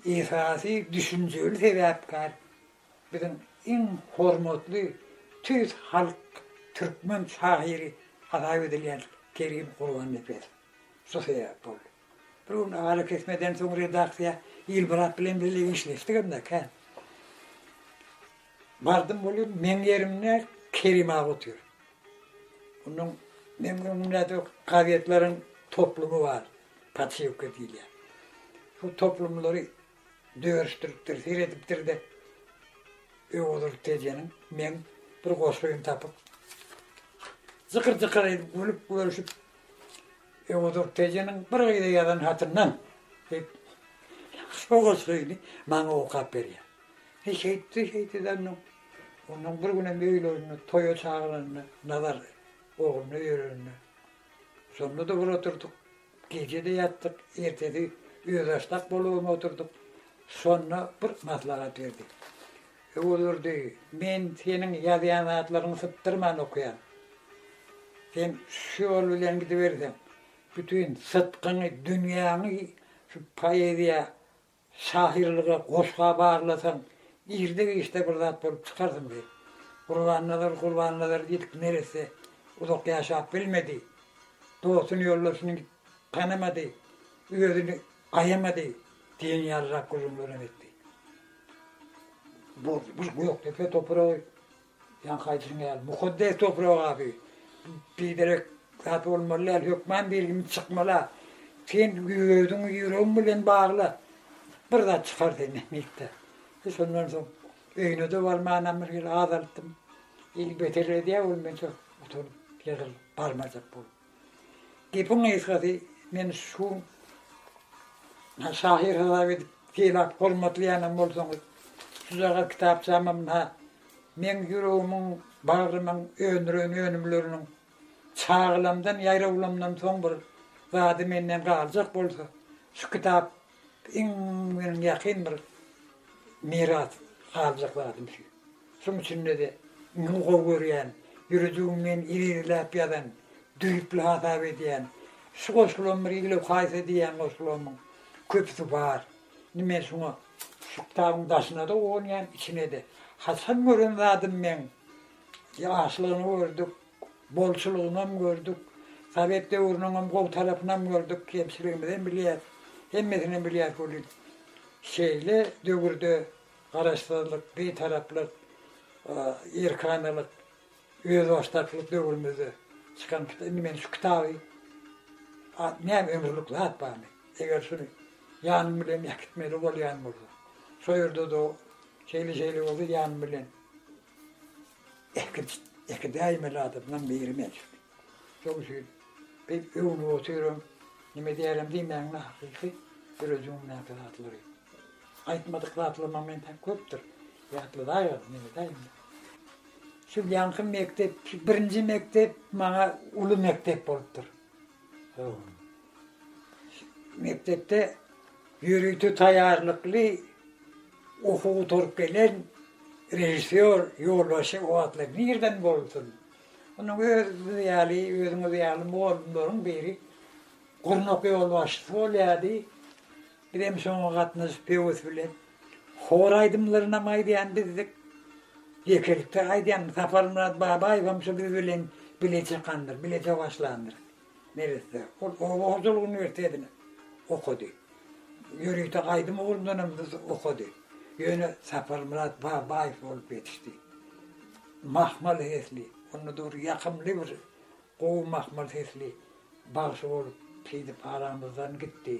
esasy düşünjeli sebäpkär biziň iň hormatly tüýs halk türkmen şahyry hasap edilýän Kerim Gurbannepesow. Şu sebäp boldy. Bir gün arakesmeden soň redaksiýa Ilmyrat bilen birlikde işleşdik hem-de kän. Bardym welin, meň ýerimde Kerim aga otyr. Onuň meň öňümde gazetleriň toplumy bar, Patyýewka diýilýär. Şu toplumlary Dörüşdiripdir, seredipdir-de, Öwezurdy tejeniň meň bir goşgymy tapyp, jykyr-jykyr edip gülüp-gölşüp, Öwezurdy tejeniň bir gyza ýazan hatyndan diýip, şo goşgyny maňa okap berýär. He şeýtdi, şeýtdi-de onnoň, onnoň bir günem öýlerine toýa çagyranda, Nazar ogluna öýerende, şonda-da bir oturdyk. Gije-de ýatdyk, ertesi özbaşdak bolubam oturdyk. Şonda bir maslahat berdi. Öwezurdy, men seniň ýazýan zatlaryňy sypdyrman okaýan. Sen şu ýol bilen gidiberseň, bütin sytgyňy, dünýäňi şu poeziýa Şahyrlyga goşga barlasaň, irde giçde bir zat bolup çykarsyň diýip, Gurbannazar Gurbannazar ilk neresse uzak ýaşap bilmedi. Dostuny ýoldaşyny tanamady, özüni aýamady diýen ýalyrak gürrüňlerem etdi. Bu Gökdepe topragy Ýaňky aýdyşyň ýaly, mukaddes toprak abi. Biderek zat bolmaly däl, hökman birimiz çykmaly-a. Sen özüňi ýüregiň bilen bagla. Bir zat çykar senden mekdep. E şondan soň öýüne-de barmanam bir gezek az alypdym. Ýeri beter edýär ol mençe utanyp, ýygylyp barmajak bolup. Gepiň gysgasy, men şu munha şahyr hasap edip sylap bolmadýanam bolsaňyz, şujagaz kitapçama munha meň ýüregimiň, bagrymyň öndüren önümleriniň çagalamdan, ýaýrawlamdan soň bir zady menden galjak bolsa, şu kitap Iň meniň ýakyn bir miras galjak zadym şu. Şoň üçin-de iňňe gowy görýän, ýüredigimden irigiläp ýazan, düýpli hasap edýän şu goşgulam bir igloo haýsy diýýän goşgularymyň köpüsi bar. Indi men şuňa şu kitabyň daşyna-da gonýan, içine-de. Haçan gören zadym men, ýaşlygyny gördük. Bolçulygynam gördük, sowet döwrüniňem gowy tarapynam gördük, kemçiligimizem bilýäs, hemmesinem bilýäs welin, şeýle döwürde garaşsyzlyk, bitaraplyk, erkanalyk, özbaşdaklyk döwrümizde çykan kitap, indi men şu kitaby näme ömürlik zat barmy, eger şuny ýanym bilen äkitmeli bolýan bolsam, şo ýerde-de şeýle-şeýle bolsa ýanym bilen. Äkirt, äkirt däýmeli adamdan biri mençik. Şoň üçin biz öwnüp otyryn, nime diýerem diýmäň-le hakyky döredijiňdäki zatlary. Aýtmadyk zatlaryma men täk köpdür ýatladaýaryn, nime diýeýin. Şu ýaňky mekdep, şu birinji mekdep maňa uly mekdep bolupdyr. Mekdepde ýörite taýýarlykly Okuw gutaryp gelen režissýor ýolbaşy o atlar nirden bolsun? Munuň özümiz ýaly, özüňiz ýaly mugallymlaryň biri gurnak ýolbaşçysy bolýardy. Bizem şoňa gatnaşyp höwes bilen hor aýdymlarynam aýdýan bizdik. Ýekelikde aýdýan Saparmyrat Babaýewem şu biz bilen bile çykandyr, bile sowaslandyr. Neresde? Ol oba hojalyk uniwersitetini okady. Ýörite aýdym ugrundanam okady. Ýöne Saparmyrat Babaýew bolup ýetişdi. Mahmal sesli, onda-da bir ýakymly bir gowy mahmal sesli bagşy bolup şeýdip aramyzdan gitdi.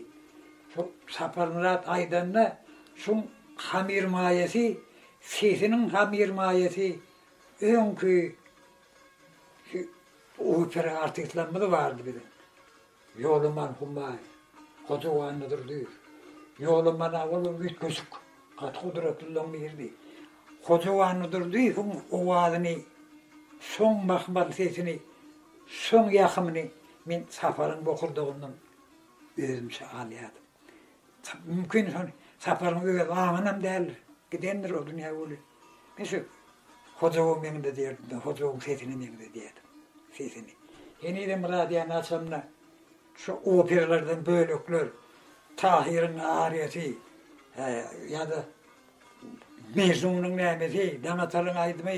Şo Saparmyrat aýdanda şuň hamyrmaýasy, sesiniň hamyrmaýasy öňki Şu opera artistlerimiz bardy biziň. Ýolaman Humaý, Hojaguwan Nydyrdyýew. Ýolaman aga ol üýtgeşik, gaty gudratlylaryň biridi. Hojaguwan Nydyrdyýewiň owazyny, şoň mahmal sesini, şoň ýakymyny men Saparyň bokurdagyndan özümçe alýardym. Mümkin şol Saparyň öz aňynam däldir. Gidendir o dünýä weli. Men şu Hojaguly meňde diýerdim-de, Hojagulyň sesini meňde diýerdim. Sesini. Henizem radiony açamda şu operalardan bölekler, Tahyryň ariýasy, hä, ýa-da Mejnunyň nämesi, Daňatalyň aýdymy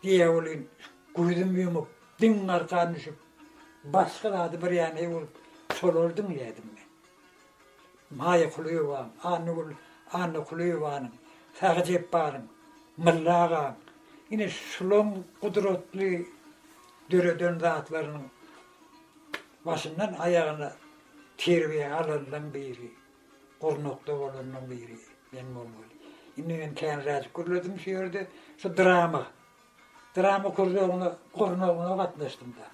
diýýä welin, gözüm ýumup, diňe arkan düşüp, başga zady bir ýany bolup, şolary diňleýärdim men. Maýa Kulyýewa, Annagül Annakulyýewanyň, Sahy Jepbaryň, Mylla agaň, ine, şulaň gudratly döreden zatlarynyň başyndan aýagyna terbiýe alanlaň biri, gurnakda bolanlaň biri men bolmaly. Indi men käniräjik gürledim şu ýerde, şu drama Drama krujoguna gurnagyna gatnaşdym-da.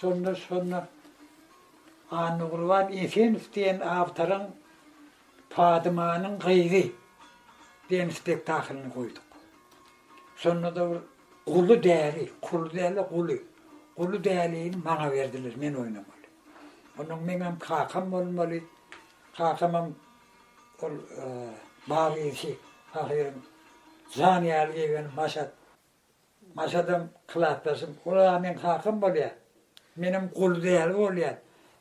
Şonda, şonda Annagurban Efendow diýen awtoryň Padymanyň gyzy diýen spektaklyny goýduk. Şonda-da bir Guly däli, Kuly däl-de Guly. Guly dälini maňa berdiler, men oýnamaly. Onda meňem kakam bolmaly. Kakamam Ol bag işi pahyryň jany ýaly geýgeni Maşat. Maşadam klasdaşym. Ol-a meň kakam bolýar. Menem guly däli bolýan.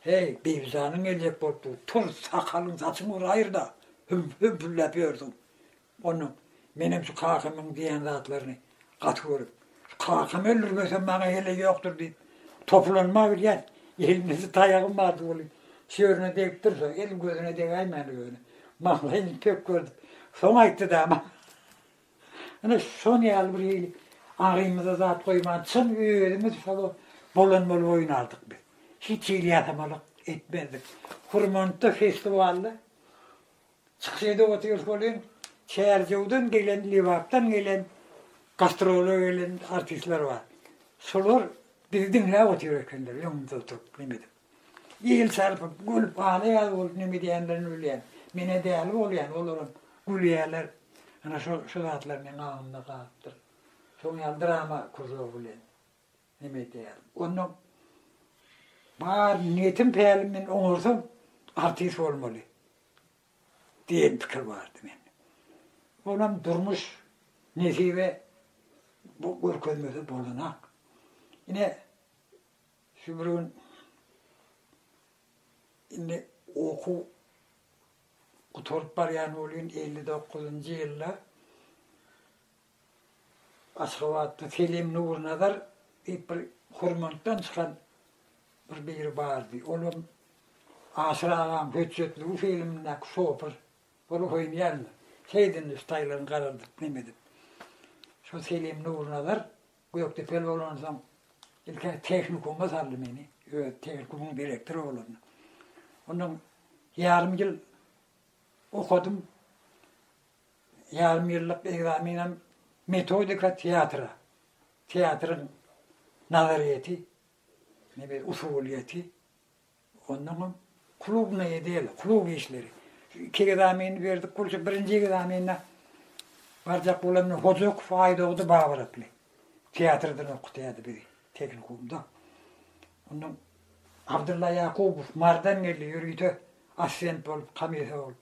Heý, Bibijanyň geljek bolupdyr. Tur, sakalyň-saçyňy bir aýyr-da, hümp-hümp-hümläp ýörsüň. Ondan menem şu kakamyň diýen zatlaryny gaty görüp, kakam öldürmese maňa heleý ýokdur diýip, topulanma gidýän. Elimde-de taýagym bardy weli, şu ýerine degip dursa, el gözüne degäýmäli ýöne. Maňlaýyny pek gördüp, soň aýtdy-da maňa. Ine, şon ýaly bir hili agzymyza zat goýman, çyn özümiz şol bolan bolup oýnardyk biz. Hiç hili ýasamalak etmezdik. Hurmantda, festiwalda Çykyş edip otyrys welin, Çärjewden gelen, Lebapdan gelen, gastrola gelen artistler bar. Şolar bizi diňläp otyr ekenler, öňümizde oturyp, neme edip. El çarpyp, gülüp, ala ýaly bolup neme edýänlerini bilýän. Men-ä däli bolýan, olaram gülýäler. Ana, şo zatlar meň aňymda galypdyr. Şoň ýaly drama kruzogy bilen. Neme edeýärin. Onda bar niýetim-pälim men oňarsam artist bolmaly diýen pikir bardy mende. Olam durmuş nesibe bu görkezmese bolanak. Ine şu bir gün indi okuw gutaryp barýan welin elli dokuzynjy ýylda Aşgabatda Selim Nurnazar diýip bir Hürmantdan çykan bir biri bardy. Olam Aşyr agaň Hötjetliwi filmindäki şopur bolup oýnaýarmy? Şeýdin üstaýlaryň garaldyp nem edip. Şo Selim Nurnazar Gökdepeli bolansoň ilki tehnikuma saldy meni, öz tehnikumyň direktory bolanda. Ondan ýarym ýyl okadym. Ýarym ýyllyk ekzamenem metodika teatra, teatryň nazaryýeti, nebir usulyýeti, onnoň soň klubnaýa del, klub işleri. Şu iki ekzameni berdik bolsa, birinji ekzamene barjak bolanda Hojakow Aýdogdy Babyr atly teatrdan okutýardy bizi, tehnikumda. Onnoň Abdylla Ýakubow Mardan geldi, ýörite assistent bolup, komissiýa bolup.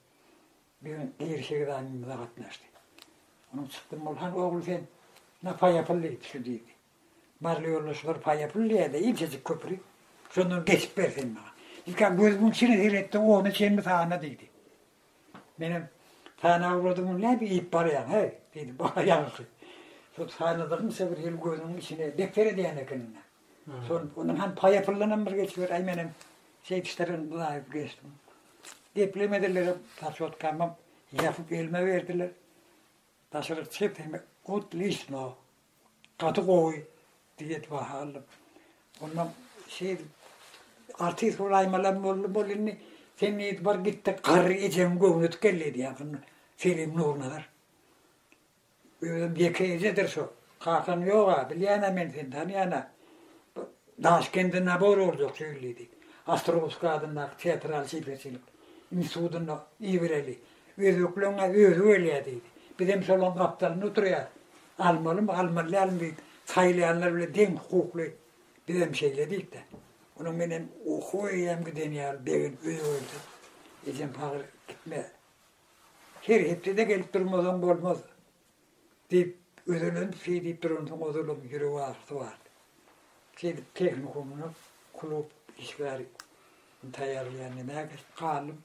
Bir gün Ýeri sekiz aý mymyza gatnaşdy. Onuň çykdym Mulhan ogly sen na paýa pul diýdi şu diýdi. Barly ýolda şular paýa pul diýerdi inçejik köpri şondan geçip ber sen maňa. Ilki gözümiň içine seretdi ony çenli sana diýdi. Menem sana ugradym ony näme iýip barýaň heý diýdim. Ýalňyşy. Şu sanadygymça bir ýyl gözümiň içine depder edýän ekeniň näme. Şol ondan han paýa pullanam bir geçiber, aý menem şeýdip işlerden buýaýyp geçdim. Geplemediler, paçotkamy ýapyp elime berdiler. Daşaryk çykyp sen otliçno, gaty gowy diýip baha aldym. Ondan şeýdip artist bolaýmalam boldy, bol indi sen diýip bir gitdi, garry ejeň göwni tükeldi diýýär. Selim Nurnazar. Özüm ýeke ejedir şo. Kakam ýog-a, bilýän-ä men seni, tanýan-a. Bu Daşkende nabor boljak şeýledi. Ostrowskiý adyndaky teatral çeperçilik institutynda ibireli. Özbekleň-ä özi gelýär diýdi. Bizem şolaryň gapdalynda oturýarys. Almalymy, almaly dälmi diýip, saýlaýanlar bilen deň hukukly. Bizem şeýle diýdik-de. Onuň menem okuwa eýýäm giden ýaly, begenip öýe geldik. Ejem pagyr gitme. Her hepde-de gelip durmasaň bolmaz, diýip, özelenip şeý diýip duransoň, ozalam ýürek agyrysy bardy. Şeýdip, tehnikumda klub işgäri taýýarlaýan nämä gelip galdym.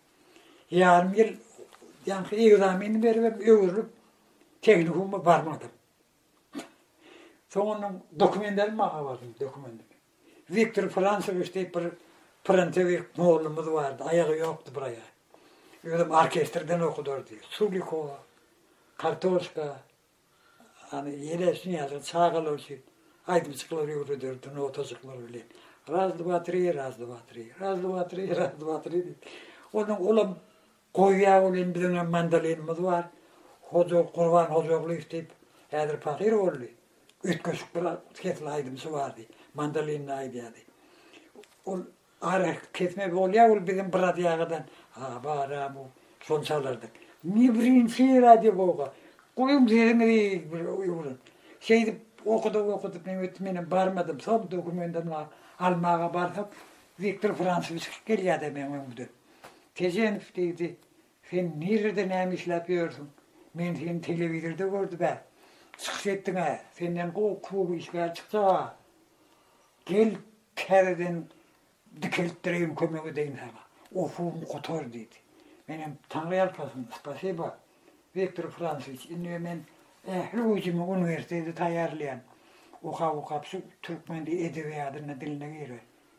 Ýarym ýyl ýaňky ekzamenimi beribem, öwrülip, tehnikuma barmadym. Soň onuň dokumentlerini maňa berdi, dokumentini. Wiktor Fransowiç diýip bir pransowiç mollumyz bardy, aýagy ýokdy bir aýagy. Özem orkestrden okudardy. Sulikowa, Kartoşka, ýany ýeleşin ýaly çagalar üçin aýdymçyklary öwrederdi notajyklar bilen. Raz, dva, tri, raz, dva, tri, raz, dva, tri, raz, dva, tri diýip. Onuň olam Gowy ýa welin biziň hem mandolinimiz bar Hoja Gurban Hojaglýew diýip häzir pahyr boldy üýtgeşik bir sesli aýdymçy bardy mandolinle aýdýardy ol ara kesme bolýa ol biziň bir radýagadan habaram ol şony çalardyk indi birinji radio boga goýuň sesiňizi bir öwrün şeýdip okadyk okadyk näme etdi menem barmadym soň dokumentimni almaga barsam Wiktor Fransowiç gelýärdi meň öňümden. Tejenow diýdi, Sen nirede näme işläp ýörsüň? Men seni telewizorda gördüm-ä. Çykyş etdiň-ä. Senden gowy klub işgäri çykjag-a. Gel, täzeden dikeltdireýin, kömek edeýin saňa. Okuwyňy gutar, diýdi. Menem, Taňryýalkasyn, spasiba, Wiktor Fransowiç, indi men ähli güýjümi uniwersitete taýýarlaýan. Okap-okap şu türkmen edebiýadyna, diline girer.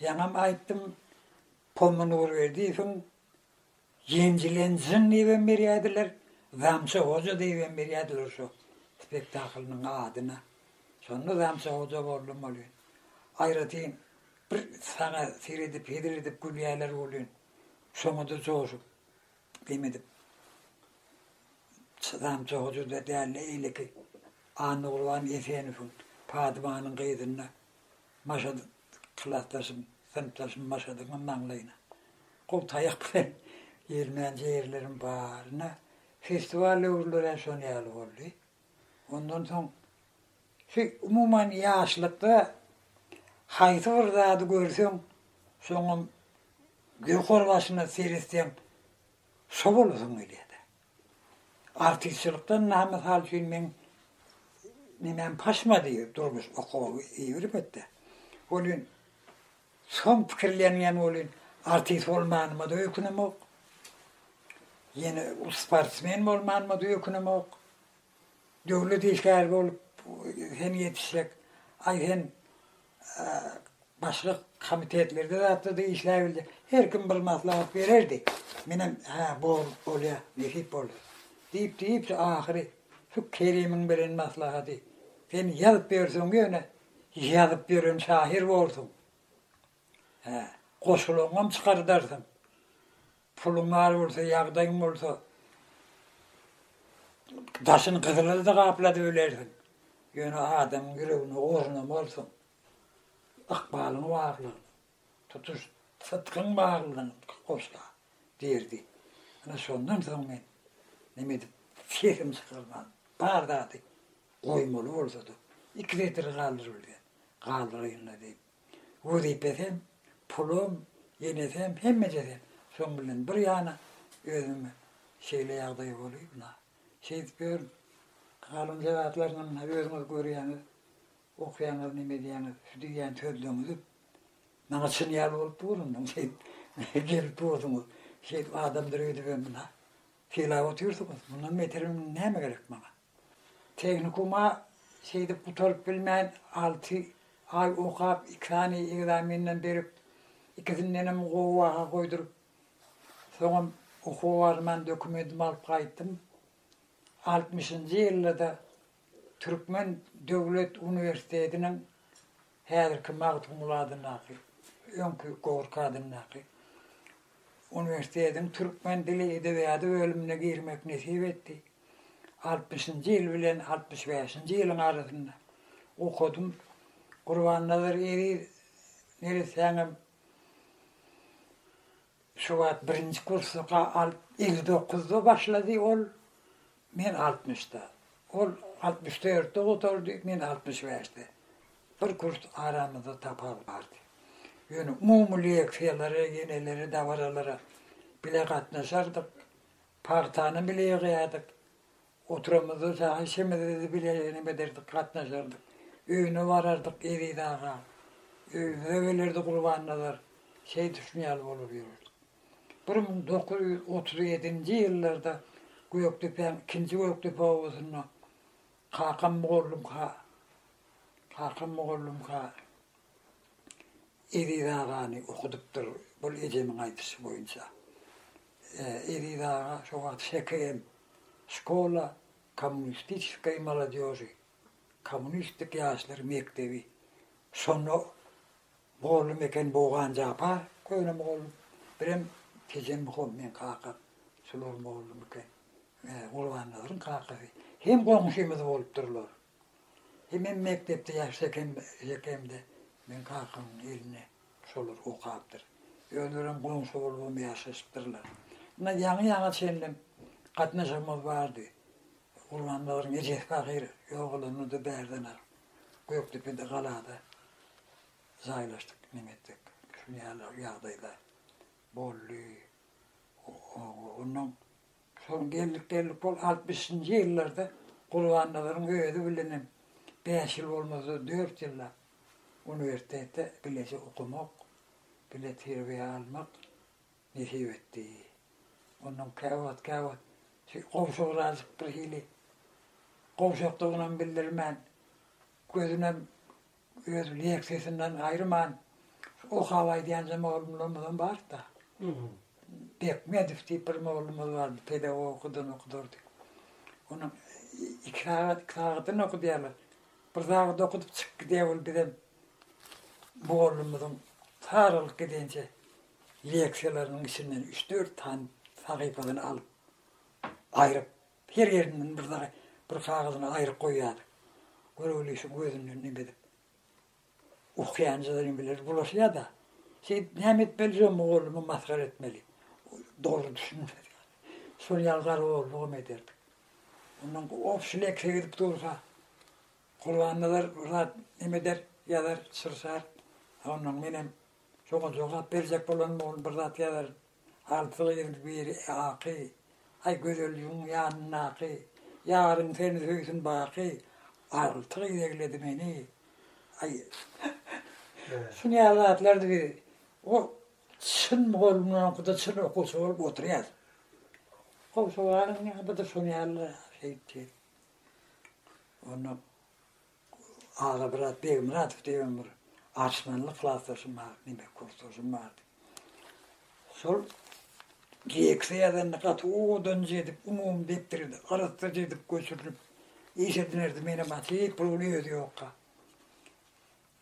Ýaňam aýtdym, Pomy Nurberdiýewiň Ýenjilen jyn diýibem berýärdiler, Zamça Hoja diýibem berýärdiler şo spektaklynyň adyna. Şonda Zamça Hoja boldum welin, aýratyn bir saňa seredip, hezil edip gülýärler welin, şoňa-da joşup, gim edip, Zamça Hoja-da däl-de, eýleki Annagurban Esenowyň Padymanyň gyzynda Maşadyk, klasdaşym, synpdaşym Maşadygyň maňlaýyna gowy taýak bilen ilmän ýerlerim bar. Ine, festiwal döwürlerem şol ýaly boldy. Ondan soň şu, umuman, ýaşlykda haýsy bir zady görseň, şoňam ýokarbaşyna seretseň, şo bolasyň gelýär-de. Artistçilikden na mysal üçin meň nemäm paşmady durmuş okawy iberipetde. Welin soň pikirlenýän welin artist bolmanyma-da öýkünemok. Ýene sportsmen bolmanyma-da öýkünemok. Döwlet işgäri bolup sen ýetişsek, aý sen başga komitetlerde zatda-da işläbiljek. Her kim bir maslahat bererdi. Menem hä bolup bolýar, nesip bolsa. Diýip-diýip ahyry şu Kerimiň beren maslahaty, sen ýazyp ýörseň ýöne ýazyp ýören şahyr borsuň. Hä, goşulaňam çykardarsyň. Puluň bar bolsa, ýagdaýyň bolsa, daşyny gyzyla-da gapladyp bilersiň. Ýöne adamyň ýüregine ornamalysyň. Ykbalyň barlygyny, tutuş sytgyň barlygyny goşla, diýerdi. Ana, şondan soň men neme edip, sesimi çykarman, bar zady goýmaly bolsa-da, iki setir galdyryp bilsem, galdyraýyn-la diýip, wezipesem, pulum, enesem, hemmejesem, şoň bilen bir ýana özüm şeýle ýagdaý bolup, na, şeýdip ýörün. Galynja zatlaryny mundan özüňiz görýäňiz, okaýaňyz, neme edýäňiz, şu diýýän sözleriňizi maňa çyn ýaly bolup dur indi, şeýdip gelip dursuňyz, şeýdip adamdyr öýdübem mundan sylap otyrsyňyz, mundan beter näme gerek maňa? Tehnikuma seýdip gutaryp bilmän, alty aý okap, iki sany ekzamenden berip, ikisindenem gowy baha goýduryp, soňam okuwa barman dokumentimi alyp gaýtdym. Altmyşynjy ýylda-da Türkmen döwlet uniwersitetiniň Häzirki Magtymguly adyndaky, öňki Gorki adyndaky uniwersitetiň türkmen dili, edebiýady bölümine girmek nesip etdi. Altmyşynjy ýyl bilen altmyş bäşinji ýylyň arasynda okadym. Gurbannazar Eziz neressäňem Şo wagt birinji kursda ga al elli dokuzda başlady ol, men altmyşda. Ol altmyş dörtde gutardy, men altmyş bäşde. Bir kurs aramyzda tapawut bardy. Ýöne umumy leksiýalara, ýenelere, dabaralara bile gatnaşardyk. Pagtany bile ýygýardyk. Oturamyzda saňa şemededi bile enem ederdik, gatnaşardyk. Öýüne barardyk Eziz aga. Öýümize gelerdi Gurbannazar. Şeý düşün ýaly bolup ýörerdik. Bir müň dokuz ýüz otuz ýedinji ýyllarda Gökdepäň ikinji Gökdepe obasynda kakam mugallymka, kakam mugallymka Eziz agany okudypdyr bul ejemiň aýdyşy boýunça. Eziz aga şo wagt ŞKM, Şkola kommunistiçeskoý molodýoži, kommunistik ýaşlar mekdebi, şonda mugallym eken Bogan Japar, köne mugallym, birem Tejemmuham meň kakam, şular mugallym eken. Gurbannazaryň kakasy. Hem goňşymyz bolupdyrlar. Hemem mekdepde ýaşsak hem hekemde meň kakamyň elinde şolar okapdyr. Özlerem goňşy bolubam ýaşaşypdyrlar. Ynha ýaňy ýaňa çenlem gatnaşygymyz bardy. Gurbannazaryn ejesi pahyr ýogalanda-da bärdenak Gökdepede galada jaýlaşdyk. Neme etjek? Şuny ýaly ýagdaýlar boldy. Onnoň Şol geldik geldik bol altmyşynjy ýyllarda Gurbannazaryň özi bilenem bäş ýyl bolmasa dört ýyllap uniwersitetde bileje okamak, bile terbiýe almak nesip etdi. Onnoň käwagt käwagt şu gowşagrazjyk birhili gowşakdygynam bildirmän gözünem Öz leksiýasyndan aýryman, okap aýdýanja mugallymlarymyzam bardy-da. Bekmedow diýip bir mugallymymyz bardy, pedagogadan okudardy. Onuň iki sagat, iki sagatdan okudýarlar. Bir sagat okudyp çykyp gidýär ol bizem mugallymymyzyň saralyp gidençä leksiýalarynyň içinden üç-dört sany sahypasyny alyp, aýryp Her ýerinden bir zary bir kagyzyna aýryp goýýardy. Göroglyşy gözünden neme edip ukýanjydygyny biler bulaşýar-da, Seýit, näme etmeli şo mugallymy masgara etmeli. Dogry düşünmez ýaly. Şol ýaly garagollugymy ederdik. Ondan obşi lekse gidip dursa, Gurbannazar bir zat neme eder, ýazar, çyrşar. Ondan menem şoňa jogap berjek bolanymda ol bir zat ýazar, Alty gyz biri aky, Aý gözelligiň ýanyndaky, Ýaryň seni söýsün baky, Alty gyz egledi meni, aý. Şu näme zatlardy biz o çyn mugallymyň oňküde çyn okuwçy bolup oturýas. Gowşabanyň ýa-da şonuň ýaly şeýtdi. Onda Agamyrat Begmyradow diýen bir arçmanly klasdaşym bar, diňe kursdaşym bardy. Şol direksiýa ýazanda gaty owadanjy edip, umumy depderi arassaja edip göçürlip iş edinerdi, menem atyp puluny özi ýokka.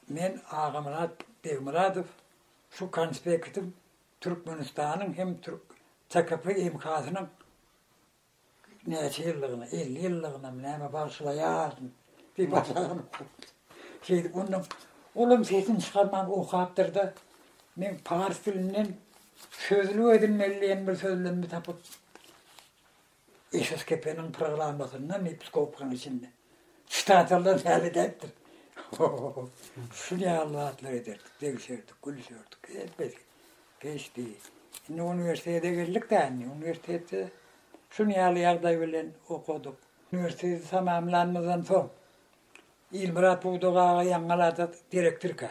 Men Agamyrat Begmyradow şu konspektim Türkmenistanyň hem TKP MK-synyň Näçe ýyllygyna, elli ýyllygynam näme bagşylaýardym, bir başagam okapdyr. Şeýdip ondan olam sesini çykarman okapdyr-da, men pars dilinden sözlük edinmeli diýen bir sözlemimi tapyp, Eşref Kepeniň programmasyndan, episkopkaň içinden. Çitatallar täze edäýipdir. Şul ýaly zatlar ederdik, degişerdik, gülüşerdik. Hemmesi geçdi. Indi uniwersitete geldik-de indi. Uniwersitetde şul ýaly ýagdaý bilen okadyk. Uniwersiteti tamamlanymyzdan soň Ilmyrat Pudak aga Ýaňylada direktorka.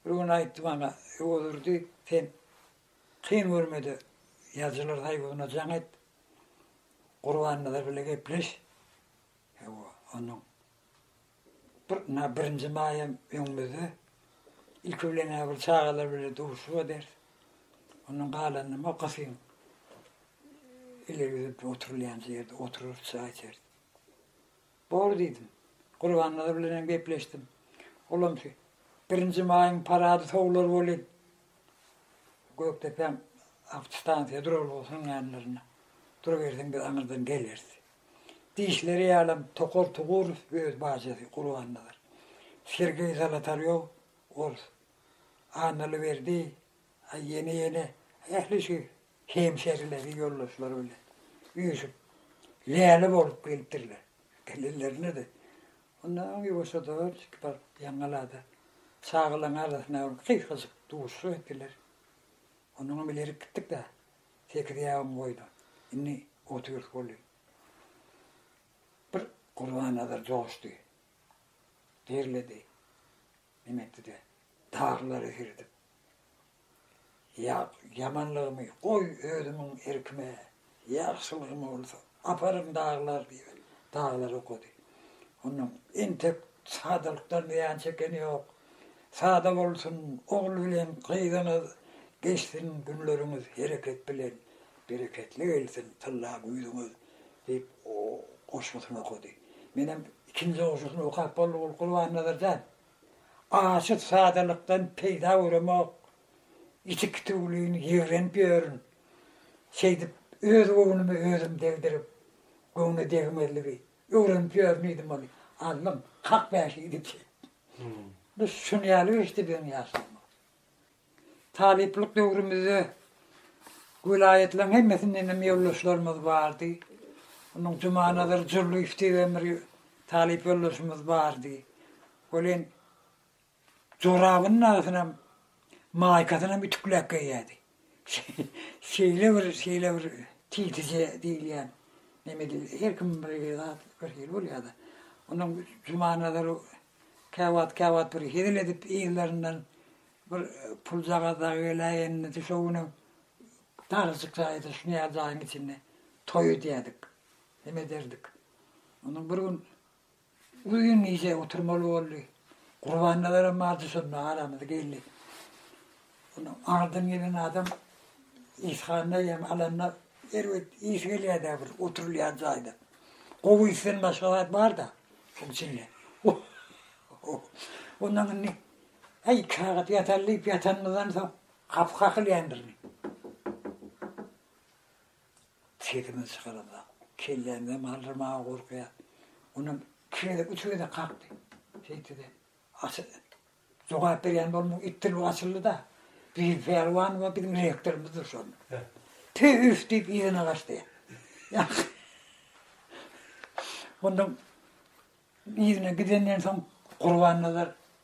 Bir gün aýtdy maňa, Öwezurdy, sen kyn görme-de, ýazyjylar soýuzyna jaň et, Gurbannazar bile gepleş. Hawa, onuň bir, ynha, birinji maýam öňümizde. Ilki bilen-ä bir çagalar bile duşup ederis. Ondan galanyny makasyň, ileri gidip oturylýan ýerde oturarys, çaý içeris. Bor diýdim. Gurbannazar bilen hem gepleşdim. Olam şu birinji maýyň parady sowular welin, Gökdepäň awtostansiýa durar bolsun ýanlarynda durubersin, biz aňyrdan geleris. Diýişleri ýalam, Tokar Tugurow öz bajasy Gurbannazar, Sergeý Zolotarýow, orus, Annalyberdi, A ýene ýene ähli şu hemşerileri ýoldaşlary bilen üýşüp läle bolup gelipdirler. Gelenlerinde-de onda aň ýuwaşjada iki par ýaňalada çagalaň arasynda bir gysgajyk duşuşyk etdiler. Onnoňam ileri gitdik-de sekiz ýabyň boýuna. Indi otyrys boldy. Bir Gurbannazar joşdy. Derledi. Neme etdi-de, darylary girdip, ýa ýamanlygymy goý özümiň erkime, ýagşylygym bolsa, aparyn darylar diýip, darylary okady. Ondan entek sadalykdan zyýan çekeni ýok. Sada bolsun, ogul bilen gyzyňyz, geçsin günleriňiz hereket bilen. Bereketli gelsin tylla güýzüňiz, diýip, goşgusyny okady. Menem ikinji goşgusyny okap boldum, ol Gurbannazar jan, Açyt sadalykdan peýda göremok, iti kitiwlin ýigrenip ýörün. Şeýdip, öz göwnümi özüm degdirip, göwne degmezligi öwrenip ýörün diýdim ony. Allym, hak bäşi diýdi. Biz şuny ýaly geçdi biziň ýaşlygymyz. Talyplyk döwrümizde welaýatlaryň hemmesindenem ýoldaşlarymyz bardy. Onuň Jumanazar Jurlyýew diýen bir talyp ýoldaşymyz bardy. Ol hem jorabynyň agzynam, maýkasyny hem ütükläp geýýärdi. Şeýle bir, şeýle bir tizije diýilýän nemedi, her kimiň bir hili zat, bir hili bolýar-da. Onuň Jumanazar käwagt, käwagt bir hezil edip, yzlaryndan bir puljagaz dagy geläýenini de şo günüň darajyk jaýydy, şuňa jaýyň içinde toý edýärdik, neme ederdik. Onuň bir gün Uly gün gije oturmaly boldy. Gurbannazarym bardy şonda aramyza geldi. Ony aňyrdan gelen adam işhana ýem alanda erbet ýesi gelýär-dä bir oturylýan jaýda. Gowy işden başga zat bar-da şoň içinde. Ondan indi Äý, iki sagat ýataly diýip ýatanymyzdan soň gapy kakylýandyr indi. Sesimizi çykaramzok. Kellämizi hem galdyrmaga gorkýas. Onam iki gezek, üç gezek kakdy. Şeýtdi-de, açy jogap berýän bolmuk, it dilbi açyldy-da, Bibi Pälwanowa biziň rektorymyz dur şol. Tü-üf diýip yzyna gaçdy. Ondan yzyna gidenden soň Gurbannazar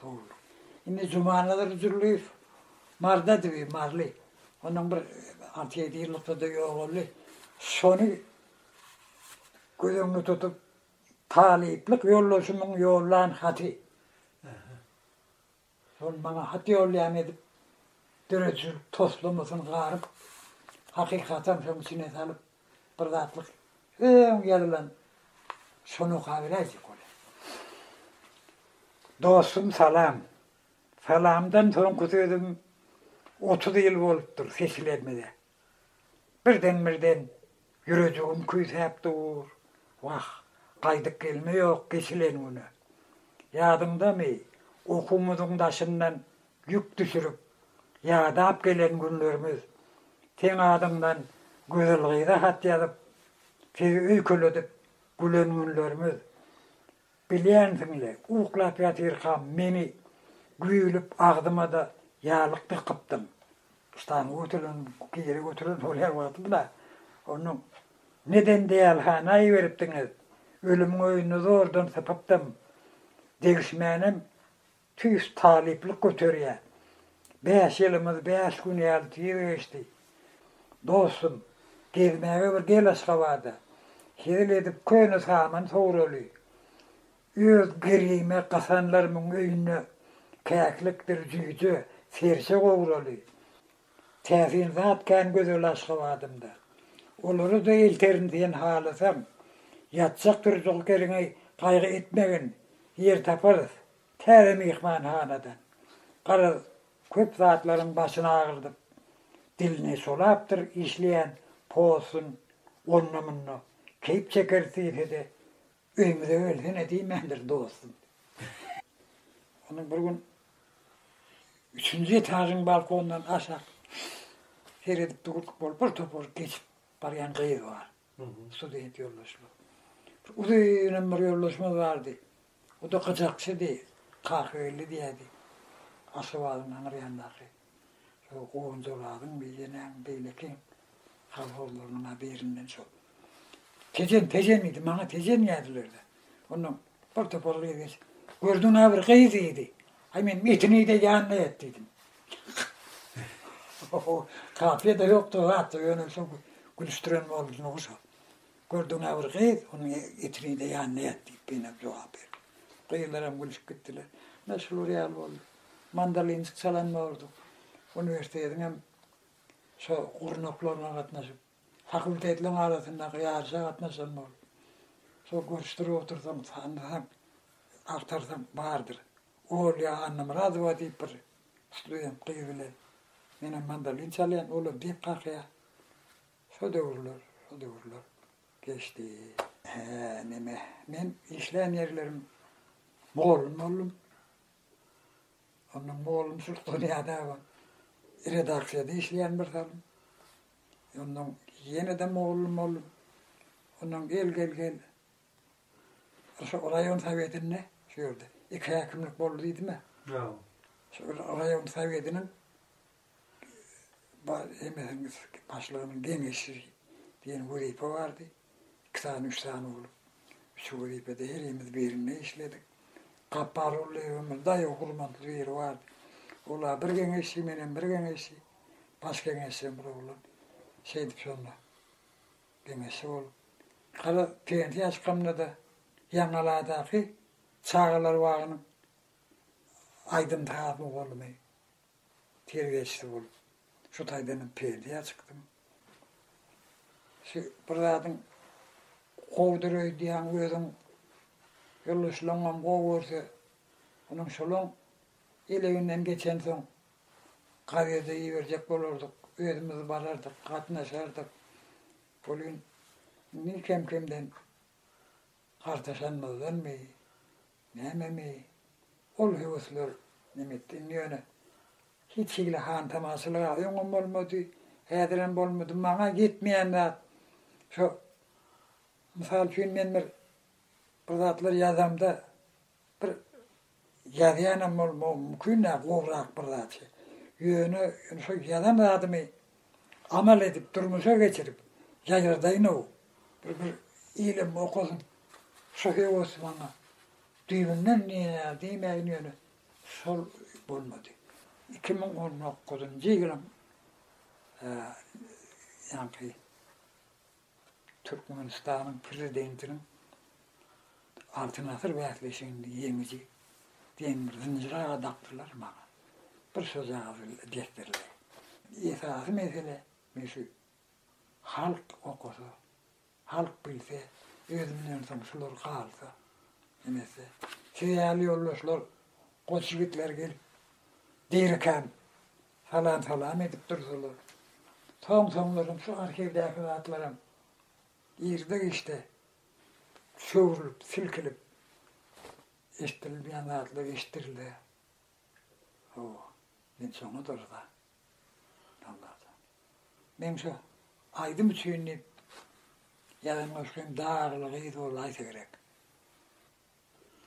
Sowul. Indi Jumanazar Jürliýew mardady bi, marly. Ondan bir alty-ýedi ýyllykda-da ýogaldy. Şony göz öňünde tutup, talyplyk ýoldaşymyň ýollan haty. Şol maňa hat ýollaýan edip, döredijilik toslamasyny garyp, hakykatdan şoň içine salyp, Bir zatlyk öň ýazylan şony okaberäýjek bolýa. Dostum salam. Salamdan soňky sözüm otuz ýyl bolupdyr seçilenmede. Birden-birden ýürejigim küýsäp dur. Wah, gaýdyp gelme ýok geçilen güne. Ýadyňdamy, okuwymyzyň daşyndan Ýük düşürip, ýadap gelen günlerimiz, Seň adyňdan gözel gyza hat ýazyp, Sizi öýkeledip gülen günlerimiz. Bilýänsiň-le, uklap ýatyrkam meni güýlüp agzyma-da ýalyk dykypdyň. Ştaňy götüren, giri götüren şol her wagtym-da. Onda neden deýalhana iberipdiňiz? Ölümiň öýünde zordan sypypdym. Degişmänem Tüýs talyplyk göterýär. Bäş ýylymyz bäş gün ýaly tiz geçdi. Dostum, gezmäge bir gel Aşgabada. Hezil edip köne saman sowraly. Öz girime gasanlarymyň öýünde käklikdir jüýje, serçe gowraly. Täsin zat kän gözel Aşgabadymda. Olary-da elterin sen halasaň. Ýatjak-turjak ýeriňi gaýgy etmegin, ýer taparys. Täze myhmanhanadan garaz köp zatlaryň başyny agyrdyp, dilini solapdyr işleýän Posun onda-munda keýp çekeris diýse-de, öýmüze gelsene diýmändir dostum. Onuň bir gün üçünji etažyň balkondan aşak seredip durk bolup bir topar geçip barýan gyz bar. Student ýoldaşlar. Bir uzynam bir ýoldaşymyz bardy. O-da gyjakçydy, kakybelli diýerdi. Aşgabadyň aňry ýanyndaky şol Gowanjoladyň beýlenäň beýlekiň kolhozlarynyň-a birinden şol. Tejen, Tejen diýdi, maňa Tejen diýerdiler-de. Onnoň bir topar gyz geçip, Gördüň-ä bir gyz diýdi. Aý meniň etini iý-de ýanyna ýat diýdim. Kafiýa-da ýokdy o zatda, ýöne şol gülüşdiren boldy şo. Gördüň-ä bir gyz, onuň etini-de ýanyna ýat, diýip, Beýnam jogap berdi. Gyzlaram gülüşip gitdiler. Ynha, şular ýaly boldy. Mandolinjik çalan bolduk. Uniwersitetiňem şo gurnaklaryna gatnaşyp, fakultetleriň arasyndaky ýaryşa gatnaşan bolduk. Şo görüşdirip otursaň, tanysaň, agtarsaň, bardyr. Olýa Annamyradowa diýip bir student gyz bilen menem mandolin çalýan, olam diýip kakýar. Şo döwürler, şo döwürler geçdi. Hä, neme, men işlän ýerlerim mugallym boldum. Onda mugallymçylyk dünýäde bar. Redaksiýada işleýän bir salym. Ondan ýene-de mugallym boldum. Ondan gel, gel, gel. Şo raýon sowetinde, şu ýerde iki häkimlik boldy diýdim-ä. Ýa. Şo raýon sowetiniň Bar hemmesiniň başlygynyň geňeşçisi diýen wezipe bardy. Iki sany, üç sany bolup, şu wezipede herimiz birinde işledik. Gapbarow Lebimiň daýaw gurmantly biri bardy. Olar bir geňeşçi, menem bir geňeşçi, baş geňeşçem bir oglan. Şeýdip şonda geňeşçi bolup, gara pensiýa çykamda-da Ýaňaladaky çagalar bagynyň aýdym-sazy mugallymydy. Tirgeçli bolup, şu taýdanam peýdä çykdym. Şu bir zadyň gowudyr öýdýäň, özüň, ýoldaşlaryňam gowy görse, onuň şolaň eleginden geçensoň, gazede iberjek bolardyk, özümiz barardyk, gatnaşardyk. Welin, indi kem-kemden gartaşanymyzdanmy, Nämemi, ol höwesler nemetdi. Indi ýöne hiç hili hantamaşalyk-a öňem bolmady, häzirem bolmady. Maňa ýetmeýän zat, şo, mysal üçin, men bir bir zatlar ýazamda, bir ýazýanam bolmagym mümkin-ä, gowrak bir zat. Ýöne şo ýazan zadymy amal edip, durmuşa geçirip ýaýradaýyn-ow, bir bir ilem okasyn, Şyhy Osmana düýbünden nine diýmäýin ýöne şol bolmady. Iki müň on dokuzynjy ýylyň ýaňky. Türkmenistanyň Prezidentiniň Altyn asyr bäsleşiginde ýeňiji demir zynjyra gadapdylar maňa bir şojagyz desdirler. Esasy mesele men şu halk okasa, halk bilse, özümden soň şular galsa, nemese siz ýaly ýoldaşlar, goç ýigitler gelip, deýrekäm Salam-salam edip dursalar. Soň-soňlaram şu arhiwdäki zatlaram girde-giçde çöwrülip, silkilip eşidilmeýän zatlar eşidirilýär. Hawa, men şoňa durza. Allajan. Men şu aýdym üçin diýip ýazan goşgym Dagly gyz bolaýsa gerek.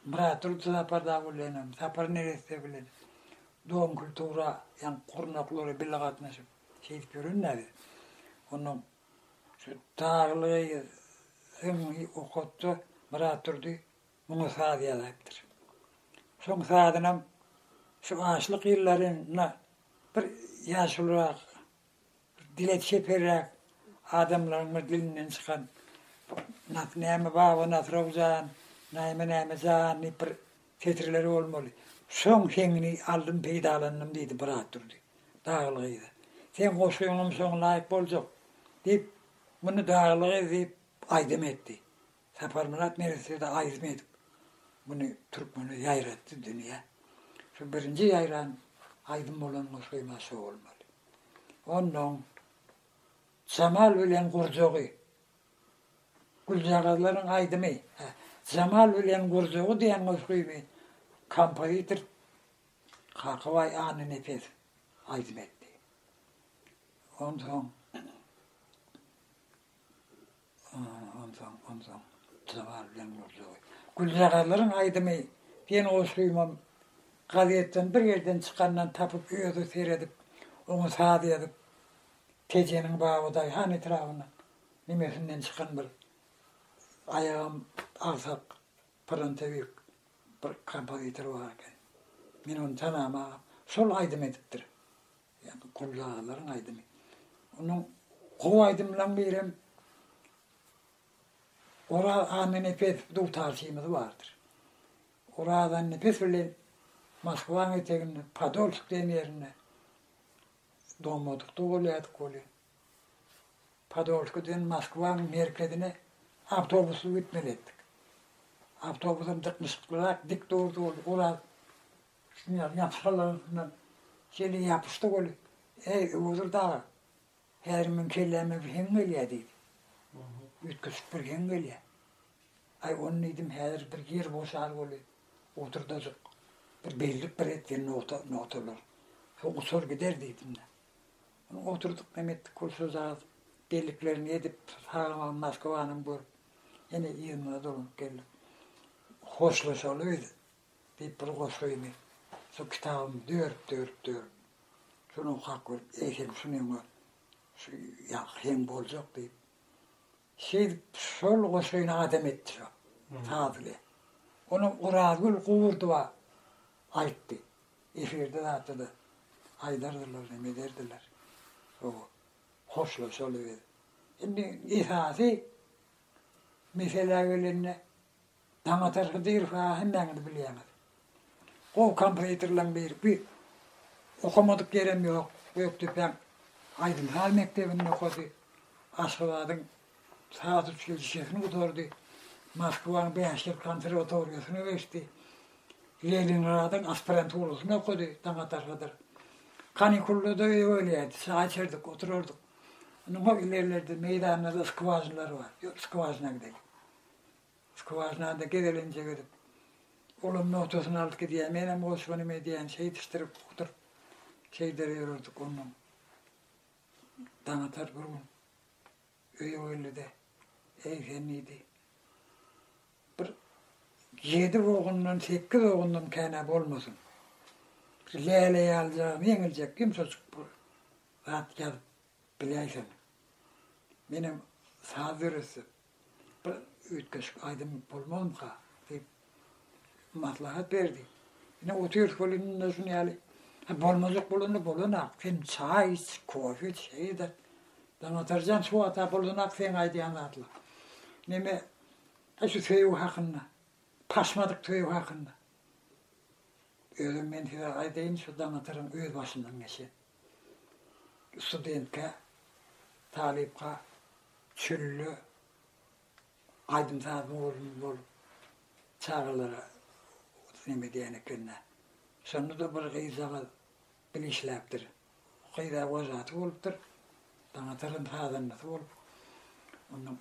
Bratyl Sapar dagy bilenem, Sapar neresse bilen dogum kultura ýaňky gurnaklara bile gatnaşyp şeýdip ýören näze. Onnoň şu Tagly syngy okatda Bratdurdy muňa saz ýazaýypdyr. Şoň sazynam şu açlyk ýyllarynda bir ýaşulyrak Dile çeperräk adamlaryň bir dilinden çykan Nas näme baba Nasrow jan, näme näme jan diýip bir setirleri bolmaly. Soň heňini aldym peýdalandym diýdi Byratdurdy Dagyly gyza. Seň goşgyňam şoňa laýyk boljak diýip, muny Dagyly gyz diýip aýdym etdi. Saparmyrat Meretdede aýdym edip, muny türkmene ýaýratdy dünýä. Şu birinji ýaýran aýdym bolan Goşgymaz şo bolmaly. Onnoň Jamal bilen gurjagy, Güljagazlaryň aýdymy, hä, Jamal bilen gurjagy diýen goşgyny kompozitor Kakabaý Annanepes aýdym etdi. Onsoň Onsoň, onsoň, Jabal bilen Nurjaggy. Güljagazlaryň aýdymy diýen goşgymam gazetden bir ýerden çykandan tapyp, özi seredip, oňa saz ýazyp, Tejeniň baby daýhan etrabynyň nimesinden çykan bir aýagam agsak pyrantabeg bir kompozitor bar eken. Men ony tanamagam. Şol aýdym edipdir. Ýagny Gully agalaryň aýdymy. Onuň gowy aýdymlaryň birem Oraz Annanepes dutarçymyz bardyr. Oraz Annepes bilen Moskwanyň eteginde Podolsk diýen ýerinde domadykda bolýardyk welin, Podolskiden Moskwanyň merkezine awtobusly gitmeli etdik. Awtobusam dyknyşyklyrak dik durdy ol Oraz Çynýaz ýapyşalansyna Jeli ýapyşdy weli, Äý, Öwezur daga, häzir meň kelläme bir heň gelýär, diýdi. Üýtgeşik bir heň gelýär. Aý, ony diýdim, häzir bir ýer boşar weli, oturdajyk bir bellik bir etgen nogta, nogtalar. Şo uçar gider diýdim-de. Ony oturdyk, näme etdik weli, şojagaz belliklerini edip, sagamam Moskwanam görüp, ýene yzymyza dolanyp geldik. Hoşlaşaly biz, Diýip bir goşgyny şol kitabym dört dört dört şunuň hak görüp eýsem şunyňa şu ýaňky heň boljak diýip şeýdip şol goşgyny adam etdi şo saz bilen ony Orazgül Gurdowa aýtdy efirde zatda-da aýdardylar neme ederdiler şo hoşlaşaly biz indi esasy meselä gelende Daňatar Hydyrow-a hemmäňiz bilýäňiz. Gowy kompozitorlaň birisi. Okamadyk ýerem ýok. Gökdepäň aýdym-saz mekdebinde okady. Aşgabadyň saz uçilişesini gutardy. Moskwaň bäş ýyl konserwatoriýasyna geçdi. Leningradyň aspiranturasyny okady Daňatar Hydyr. Kanikullarda öýe gelýärdi. Çaý içerdik, oturardyk. Indi hol ilerlerde meýdanda-da skwažnalar bar. Skwažna gideli. Skwažnada gezelenjek edip, olam nogtasyny alyp gidýär, menem goşgynym edýän, şeýdişdirip, ukduryp, şeýder ýörerdik. Onnoň Daňatar bir gün öýe geldi-de, Eý, sen diýdi, bir ýedi ogundan, sekiz ogundan kän-ä bolmasyn. Şu läle ýalyjagam ýeňiljek, ýumşajyk bir zat ýazyp biläýseň. Menem saz döretdim. Bir üýtgeşik aýdym bolmazmyka? diýip, maslahat berdi. Ine, otyrys welin indi şuny ýaly. Ha, bolmajak bolanda bolan-ak. Sen çaý iç, kofe iç, şeý ede. Daňatar jan, şu wagta bolan-ak seň aýdýan zatlaň. Neme, e, şu söýgi hakynda, paşmadyk söýgi hakynda. Özem men size aýdaýyn, şu Daňataryň öz başyndan geçen. Studentkä, talypka çölde aýdym sazyň ornuny bolup çagalara neme edýän ekende. Şonda-da bir gyzjagaz bil işläpdir. Gyz-a wojatý bolupdyr. Daňataryň sazandasy bolup, onda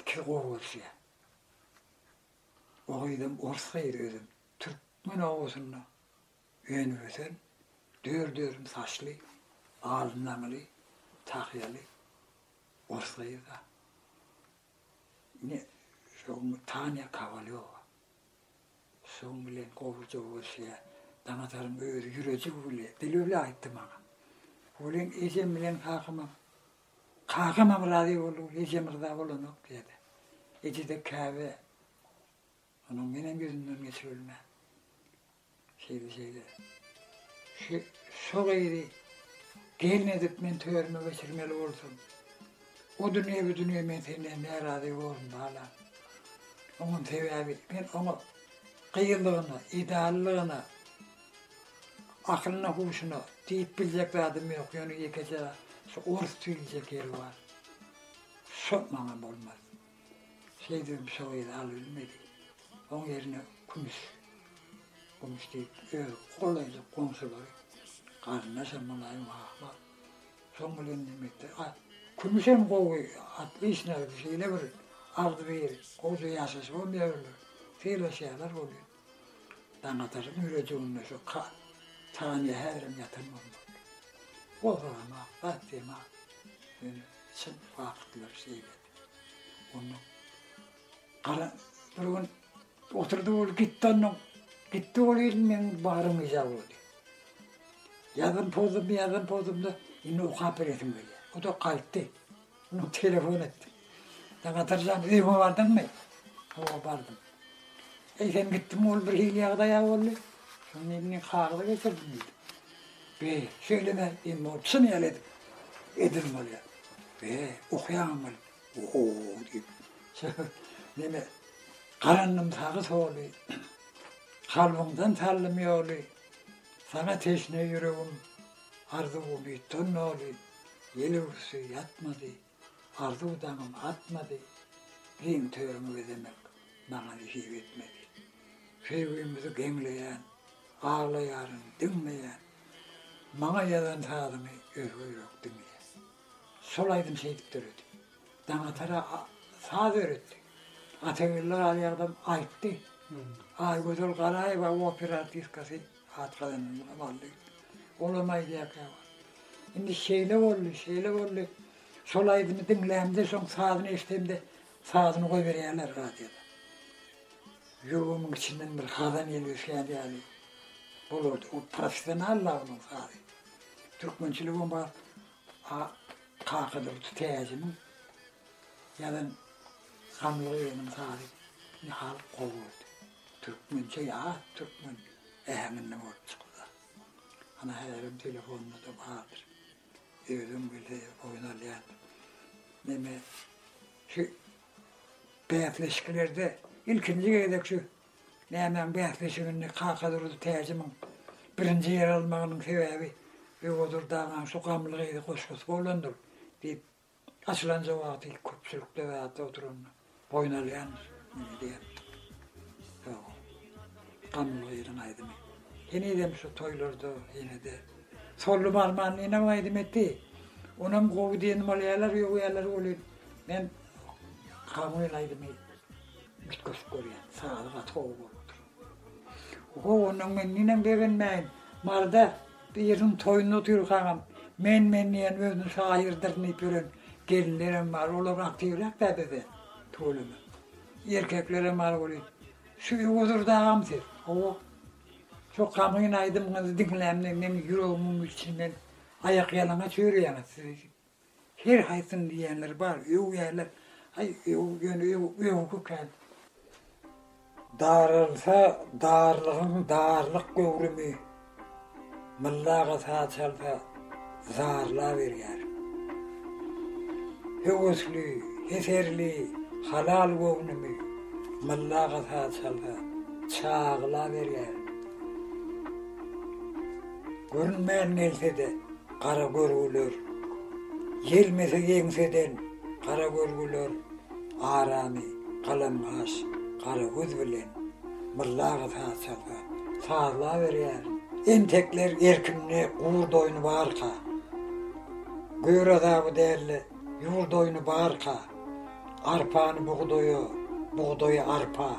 ikisi gowy görüşýär. O gyzam orus gyzy özem. Türkmen obasynda Önübösen, dört-örüm saçly, al naňly, tahýaly ors gyzy-da. Ine, şo gün Tanya Kowalýowa. Şoň bilen gowuja görşýär. Daňataryň özi ýürejigi bile, dili bile aýtdy maňa. Welin ejem bilen kakamam, kakamam razy boldy, ejem ryza bolanok diýdi. Eje-de käbä. Onuň menem ýüzünden geçibilmän. Şeýle şeýle. Şu şu gyzy gelin edip men törüme geçirmeli bolsam. O dünýe bu dünýe men senden närazy boldum bala. Onuň sebäbi men oňa gyýyllygyna, ideallygyna, akylyna, huşuna diýip biljek zadym ýok. Ýöne ýekeje şu orus diýiljek ýeri bar. Şo maňa bolmaz. Şeýdibem şoýuny alybilmedi. Oň ýerine kümüş, gümüş diýip, öz golaýly goňşulary, garyndaşam bolaýyn wah-wah. Şoň bilen neme etdi. A kümüşem gowy atly işnägdi. Şeýle bir agzybir, gowja ýaşaşy bolýarlar. Sylaşýarlar bolýa. Daňataryň ýürediginde şu Tanya häzirem ýatan bolmaly. Gozaram-a, batdym-a. Ýöne çyn wagtlar şeýle. Onda gara bir gün oturdy ol gitdi andan. Gitdi ol gelin men barym yza boldy. Yazym pozdum, yazym pozdum da indi okap beresim gelýär. O da gaýtdy. Onu telefon etdi. Da gatarjan öýüňe bardyňmy? Hawa bardym. Eýsem gitdim ol bir hili ýagdaýa boldy. Şonda indi kagyza geçirdim diýdi. Beý, şeýle-de indi ony çyn ýaly edip, edil bolýar. Beý, okýaňmy weli? Oho-o-o! diýip, Şöhrat meni garandym sagy-soly, kalbyňdan saldym ýoly, saňa teşne ýüregim, arzuwym ýitdi on noly, ýel urşy ýatmady. Arzuw daňym atmady, giň törüňi bezemek maňa nesip etmedi. Söýgümizi geňleýän, aglaýaryn, diňmeýän, maňa ýazan sazyňy özge ýürek diňleýär. Şol aýdym şeýdip döredi. Daňatara saz öwretdi. Atageldi Galyagzam aýtdy. Aýgözel Garaýewa opera artistkasy. Hatlaýan Wally. Olam aýdýar käwagt. Indi şeýle boldy, şeýle boldy. Şol aýdymy diňlämde, soň sazyny eşidemde, sazyny goýberýärler radioda. Ýüregimiň içinden bir hazan ýeli ösýän ýaly bolardy. Ol professional la onuň sazy. Türkmençiligem bar. A Kakadurdy Täjiniň ýazan Gamly gyzynyň sazy nahal gowy boldy. Türkmençe ýat türkmen äheňinde bolup çykylýar. Ana häzirem telefonda-da bardyr. Özüm weli oýun alýan. Neme şu bäsleşiklerde ilkinji gezek şu nämäň bäsleşiginde Kaka Durdy Täjimiň birinji ýer almagynyň sebäbi Öwezurdaňam şu Gamly gyzy goşgusy bolandyr diýip Açylanja wagty köpçülik lebapda oturanda boýun alýan meni diýerdi. Ýoga. Gamylgynyň aýdymy. Henizem şu toýlarda ýene-de Solly Barmanlynyňam aýdym etdi. Onam gowy diýen bolýarlar, ýok ýerleri welin men Kamil aýdymy üýtgeşik görýän. Sazy gaty gowy bolupdyr. Oho ondan men ninem begenmäýin. Marda Biriniň toýunda oturyk agam, men-men diýen özüni şaýyrdyryn diýip ýören gelinlerem bar, olar aktiwräk-dä bizde tüweleme. Erkeklerem az bolýa. Şu Öwezurdy agam siz? Hawa. Şo Kamyň aýdymyňyzy diňlämde meň ýüregimiň içinden aýakýalaňaç ýörýäňiz siz. Her haýsyny diýýänleri bar, öwýärler. Aý, öw, ýöne öw, öwgi kän. Daralsa darlygyň darlyk göwrümi, Mylla aga saz çalsa, zarlaberýär. Höwesli, heserli, halal göwnümi, Mylla aga saz çalsa, çaglaberýär. Görünmän gelse-de. gara görgüler, Ýelmese ýeňseden gara görgüler, Aramy galam-gaş gara göz bilen Myllaga saz çalsa, sazlaberýärin. Entekler erkinde gurd oýny barka, Gör azaby dälde ýurd oýny barka, Arpany bugdaýa, bugdaýy arpa,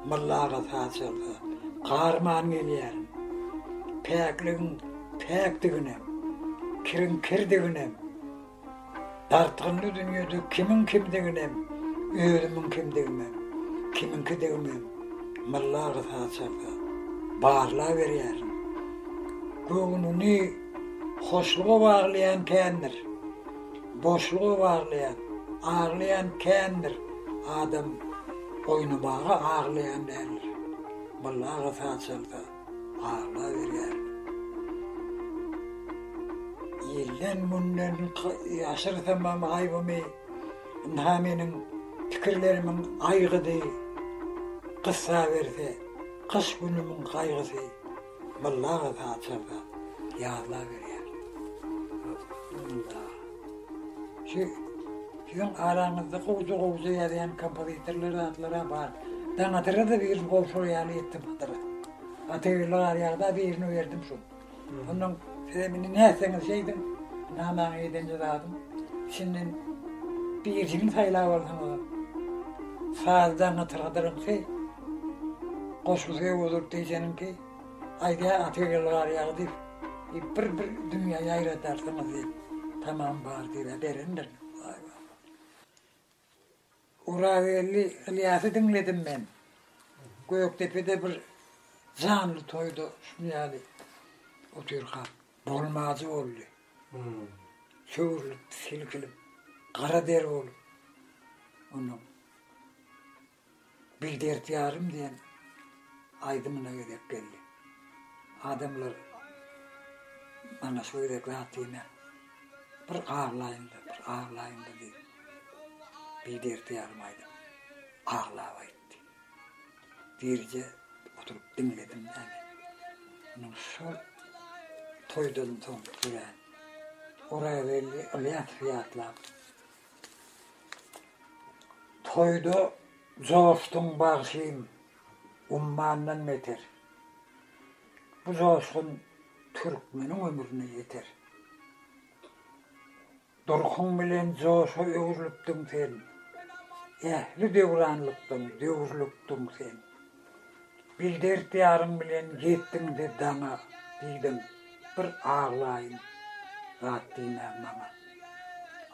Mylla aga saz çalsa, garman gelýärin. Päkligiň päkdiginem, kiriň kirdiginem, Dartgynly dünýede kimiň kimdiginem, Özümiň kimdigimem, kimiňkidigimem, Mylla aga saz çalsa, barlaberýärin. Göwnüni hoşluga baglaýan kändir. Boşluk owarlaýan, aglaýan kändir, Adam oýnamaga aglaýan däldir. Byllaga saz çalsa, aglaberýär. Ilden-günden ýaşyrsamam aýbymy, Ynha meniň pikirlerimiň aýgydy, Gyssa berse, gyş günümiň gaýgysy. Mollaňa patyşaňka ýazlar berýär. Munda şu siziň araňyzda gowja-gowja ýazýan kompozitorlar zatlaram bar. Daňadyra-da birini gowşur ýaly etdim Hydyra. Gatyrly garýagda birini berdim şu. Ondan sizem indi nätseňiz şeýdiň. Namaňy edenje zadym. Içinden birisini saýlap alsaňyzam. Saz daňatyr Hydyryňky. Goşgy söýüp oturyp diýjeniňki, aýdýar atyr ýyl gar ýagy diýip, diýip bir bir dünýä ýaýradarsyňyz diýip, tamam bar diýip-ä berendir. Waý waý. Orageldi Ylýasy diňledim men. Gökdepede bir janly toýda şuny ýaly otyrkak bolmajy boldy. Söwrülip, silkilip, gara deri bolup. Ondan Bir dert ýarym diýen aýdymyna gezek geldi. Adamlar mana şu gezek zat diýmän, bir aglaýyn-da, bir aglaýyn-da diýip, Bir dert ýarym aýdym aglap aýtdy. Birje oturyp diňledim-de men. Munuň şol toýdan soň örän Orageldi Ylýasowy ýatlap, Toýda joşduň bagşym, ummandan beter. Bu joşgun türkmeniň ömrüne ýeter. Durkuň bilen joşa öwrülipdiň sen, Ähli döwranlykdan döwrülipdiň sen. Bildert ýarym bilen getdiň-de daňa diýdim, bir aglaýyn zat diýmäň maňa.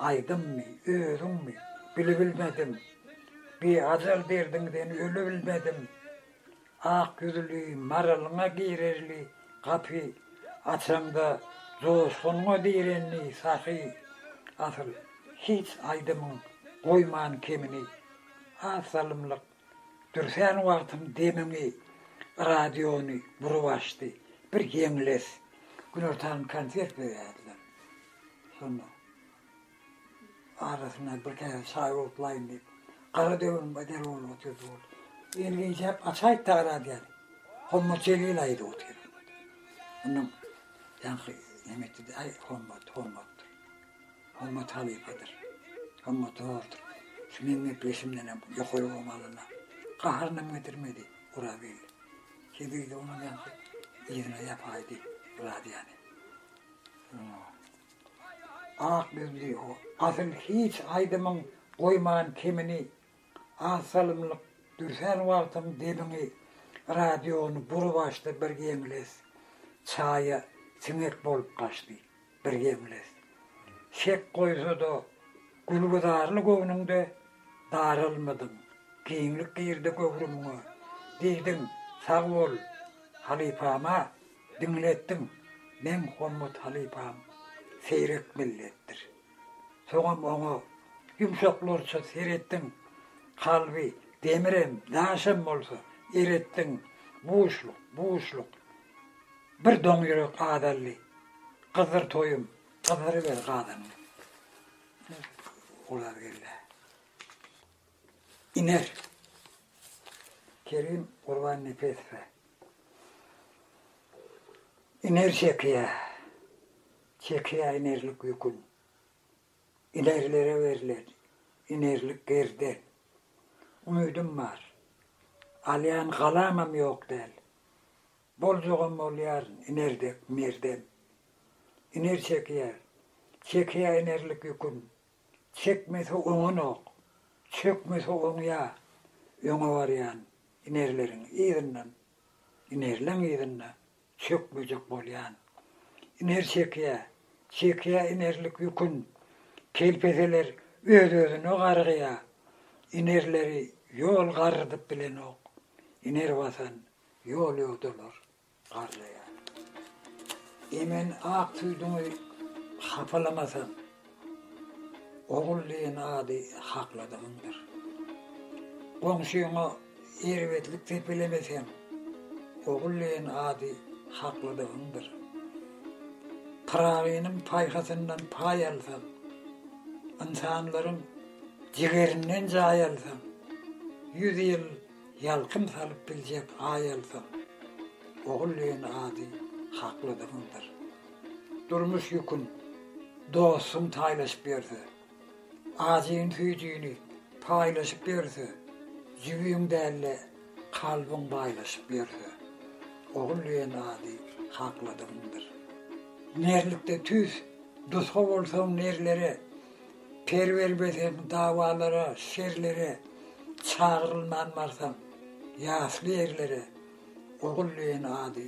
Aýdymmy, özüňmi, bilibilmedim, biajal derdiňden ölibilmedim. Ak ýüzli maralyňa girerli gapy açaňda joşgunyňa direnli sahy, asyl, hiç aýdymyň goýman kemini. Az salymlyk Dürsän wagtym demiňi, radiony burup açdy. Bir geňles. Günortan konsert berýärdiler. Şonda arasyna bir käse çaý otlaýyn diýip, gara döwüm bedel bolup otyrdy ol. Elini injäp açaýyp-da radiony. Hommat Jelil aýdyp otyr. Onuň ýaňky neme etdi-de, aý, Hommat, Hommatdyr. Gymmat halypadyr. Gymmat zordur. Şu meň gepleşimdenem ýokary goýum alana gaharynam getirmedi Orageldi. Sebidi onuň ýaňky yzyna ýapaýdy Radýany. Ak ýüzli o, asyl hiç aýdymyň goýman kemini az salymlyk dürsän wagtyň debiňi radiony bury-başda bir geňles çaýa siňek bolup gaçdy. bir gemles. Şek goýsa-da, gülgüzarly göwnüňde daralmadyň, giňlik girdi göwrümiňe. Diýdiň, Sag bol, halypam-a, diňletdiň, meň hormat halypam seýrek milletdir. Soňam oňa ýumşaklarça seretdiň, kalby demirem, daşam bolsa eretdiň, buşluk, buşluk, Bir doň ýürek gazaldy. Gyzdyr toýum, gyzdyryber gazanyňy. Olar geldi. Iner. Kerim Gurban Nepesowa. Iner çekiýär. Çekiýär inerlik ýükün. Inerilere berlen inerlik gerden. Umydym bar. Alýan galaňam ýok däl. Boljagam bolýar iner dek merdem. Iner çekýär, çekýär inerlik ýükün. Çekmese oňanok, çökmese oňýar. Öňe barýan inerleriň yzyndan, inerleň yzynda çökmejek bolýan iner çekýä, çekýä inerlik ýükün, kelpeseler öz-özüne gargýa, inerleri ýol garrydyp bilenok, iner basan ýol ýodalar garraýar. Emen ak süýdüňi hapalamasaň. Ogul diýen ady hakladygyňdyr. Goňşyňa erbetlik depelemeseň, ogul diýen ady hakladygyňdyr. Pyragynyň paýhasyndan paý alsaň, ynsanlaryň jigerinden jaý alsaň, ýüz ýyl ýalkym salyp biljek Aý alsaň, ogul diýen ady hakladygyňdyr. Durmuş ýükün dostum taýlaşyp ýörse, Ajyny-süýjini paýlaşyp ýörse, Jübiň däl-de, kalbyň baýlaşyp ýörse, Ogul diýen ady hakladygyňdyr. Merlikde tüýs dusga bolsaň nerlere, Per bermeseň dawalara, şerlere, Çagyrylman barsaň ýasly ýerlere, Ogul diýen ady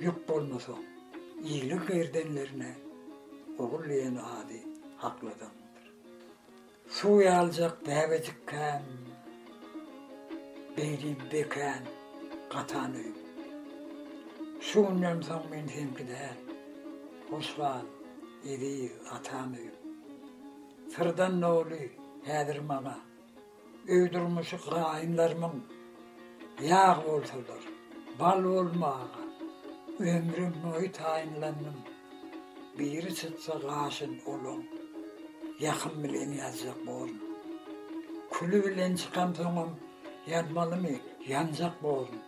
Ýük bolmasaň, iliň gerdenlerine ogul diýen ady hakladandyr. Suw ýaljak bäbejikkäm, beýdi bekän, gatan öýüm. Şu günden soň men seňki däl, hoş gal, eziz atan öýüm. Syrdan doly häzir maňa. Öý durmuşy gaýynlarymyň ýag bolsalar, bal bolmaga ömrüm boýy taýynlandym. Biri çytsa gaşyn olaň, ýakym bilen ýazjak borun. Küli bilen çykamsoňam ýanmalymy, ýanjak borun.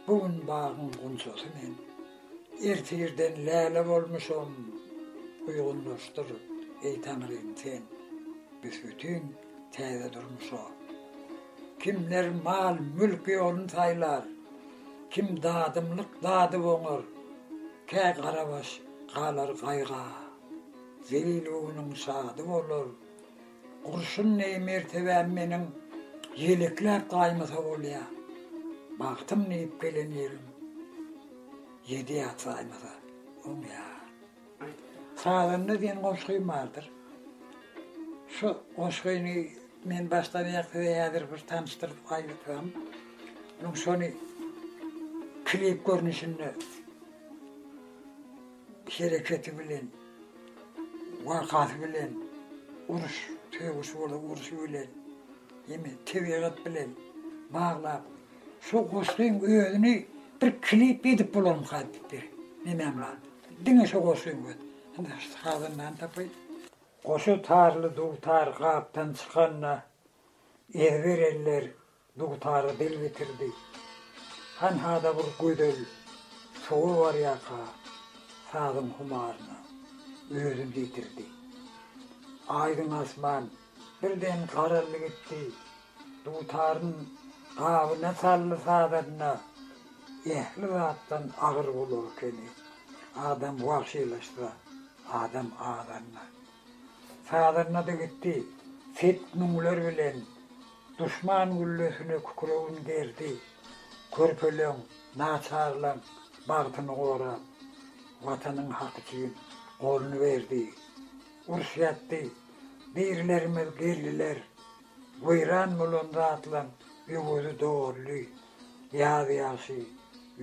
Bu gün bagyň gunçasy men, ertirden läle bolmuşam. Uýgunlaşdyr, eý Taňrym, sen, büs-bütin. Täze durmuşa kimler mal-mülk ýolun saýlar, kim dadymlyk dadyp oňar, kä garabaş galar gaýga. Zelil göwnüň şady bolar. Gurşun deý mertebäm meniň ýelekläp gaýmasa bolýa. Bagtym diýip gelen ýerim ýedi ýat saýmasa oňýa. Sazanda diýen goşgym bardyr. Şu goşgyny men başdan aýak size häzir bir tanyşdyryp aýdypdym. Munuň şony klip görnüşinde hereketi bilen, wakasy bilen, uruş, sögüş bolan uruşy bilen, ýeme tebigat bilen baglap, şu goşgyň özüni bir klip edip bolarmyka diýip bir nemem bar. Diňe şo goşgy bet. Indi sazandany tapaýyn. Goşa tarly dutar gapdan çykanda, ezber eller dutara dil bitirdi. Hanha-da bir gözel sowa barýarka, sazyň humaryna özüni ýetirdi. Aýdyň asman Birden garaldy gitdi. Dutaryny gabyna saldy sazanda ähli zatdan agyr bolar ekeni. Adam wagşylaşsa, adam azanda. Sazanda-da gitdi. Set müňler bilen duşman güllesine kükregin gerdi. Körpeleň, naçarlaň bagtyny gorap, Watanyň haky üçin goluny berdi. Urşýatdy. Birlerimiz geldiler, weýran bolan zatlaň öwezi doldy. Ýaz ýagşy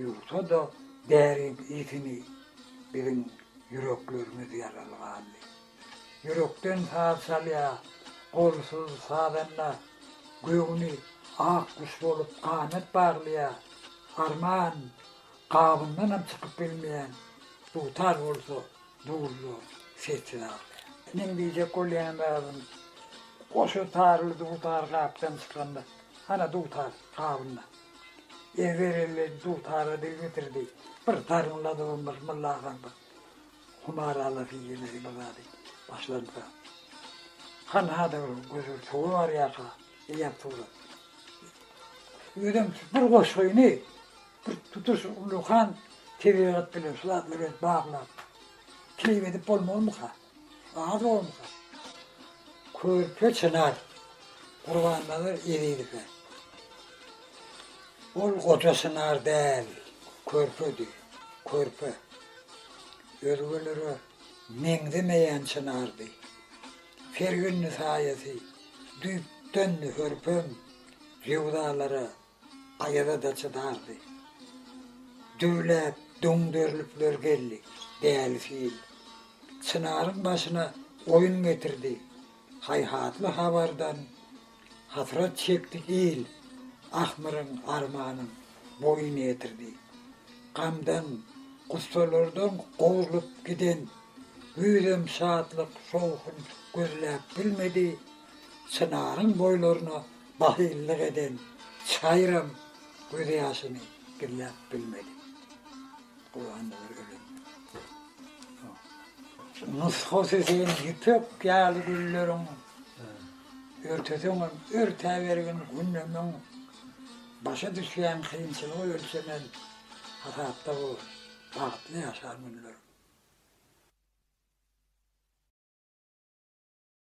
ýuwsa-da däriň yssyny, biziň ýüreklerimiz ýaraly galdy. Ýürekden saz çalýar, golsuz sazanda göwni ak guş bolup ganat baglaýar. Arman gabyndanam çykyp bilmeýän dutar bolsa, Dullu sesi ýaly. Meň diýjek bolýan zadym, goşa taryly dutar gapdan çykanda, hana dutar gabynda. Ezber elli dutara dil bitirdi. Bir taryň ladybam bir Mulla agaň bir humar alasy gelmedi bir zady başlansa. Hanha-da bir gözüň suwy barýarka, eýýäm surat. Özem bir goşgyny Bir tutuş ullakan tebigat bilen şu zatlar bilen baglap, keýp edip bolmarmyka? Az bolmasa. Körpe çynar Gurbannazar Ezizowe. Ol goja çynar däl, körpedi, körpe. Özgelere meňzemeýän çynardy. Fergünli saýasy düýpden hörpem rewzalara Aýaza-da çydardy. Düwläp, doňderlipler geldi, Däli fil. Çynaryň başyna oýun getirdi. Haýhatly habardan hasrat çekdi il, Ahmyryň armanyň boýun ýetirdi. Gamdan, gussalardan gowrulyp giden güýzem şatlyk, şowhun gözläp bilmedi, Çynaryň boýlaryna Bahyllyk eden çaýram gözýaşyny gizläp bilmedi. Gurbannazar ölende. Nusgasy sen ýüpek ýaly gülleriň örteseňem örtäbergin günlemeň başa düşýän kynçylygy ölçemen hasapda bol, bagtly ýaşa günleriň.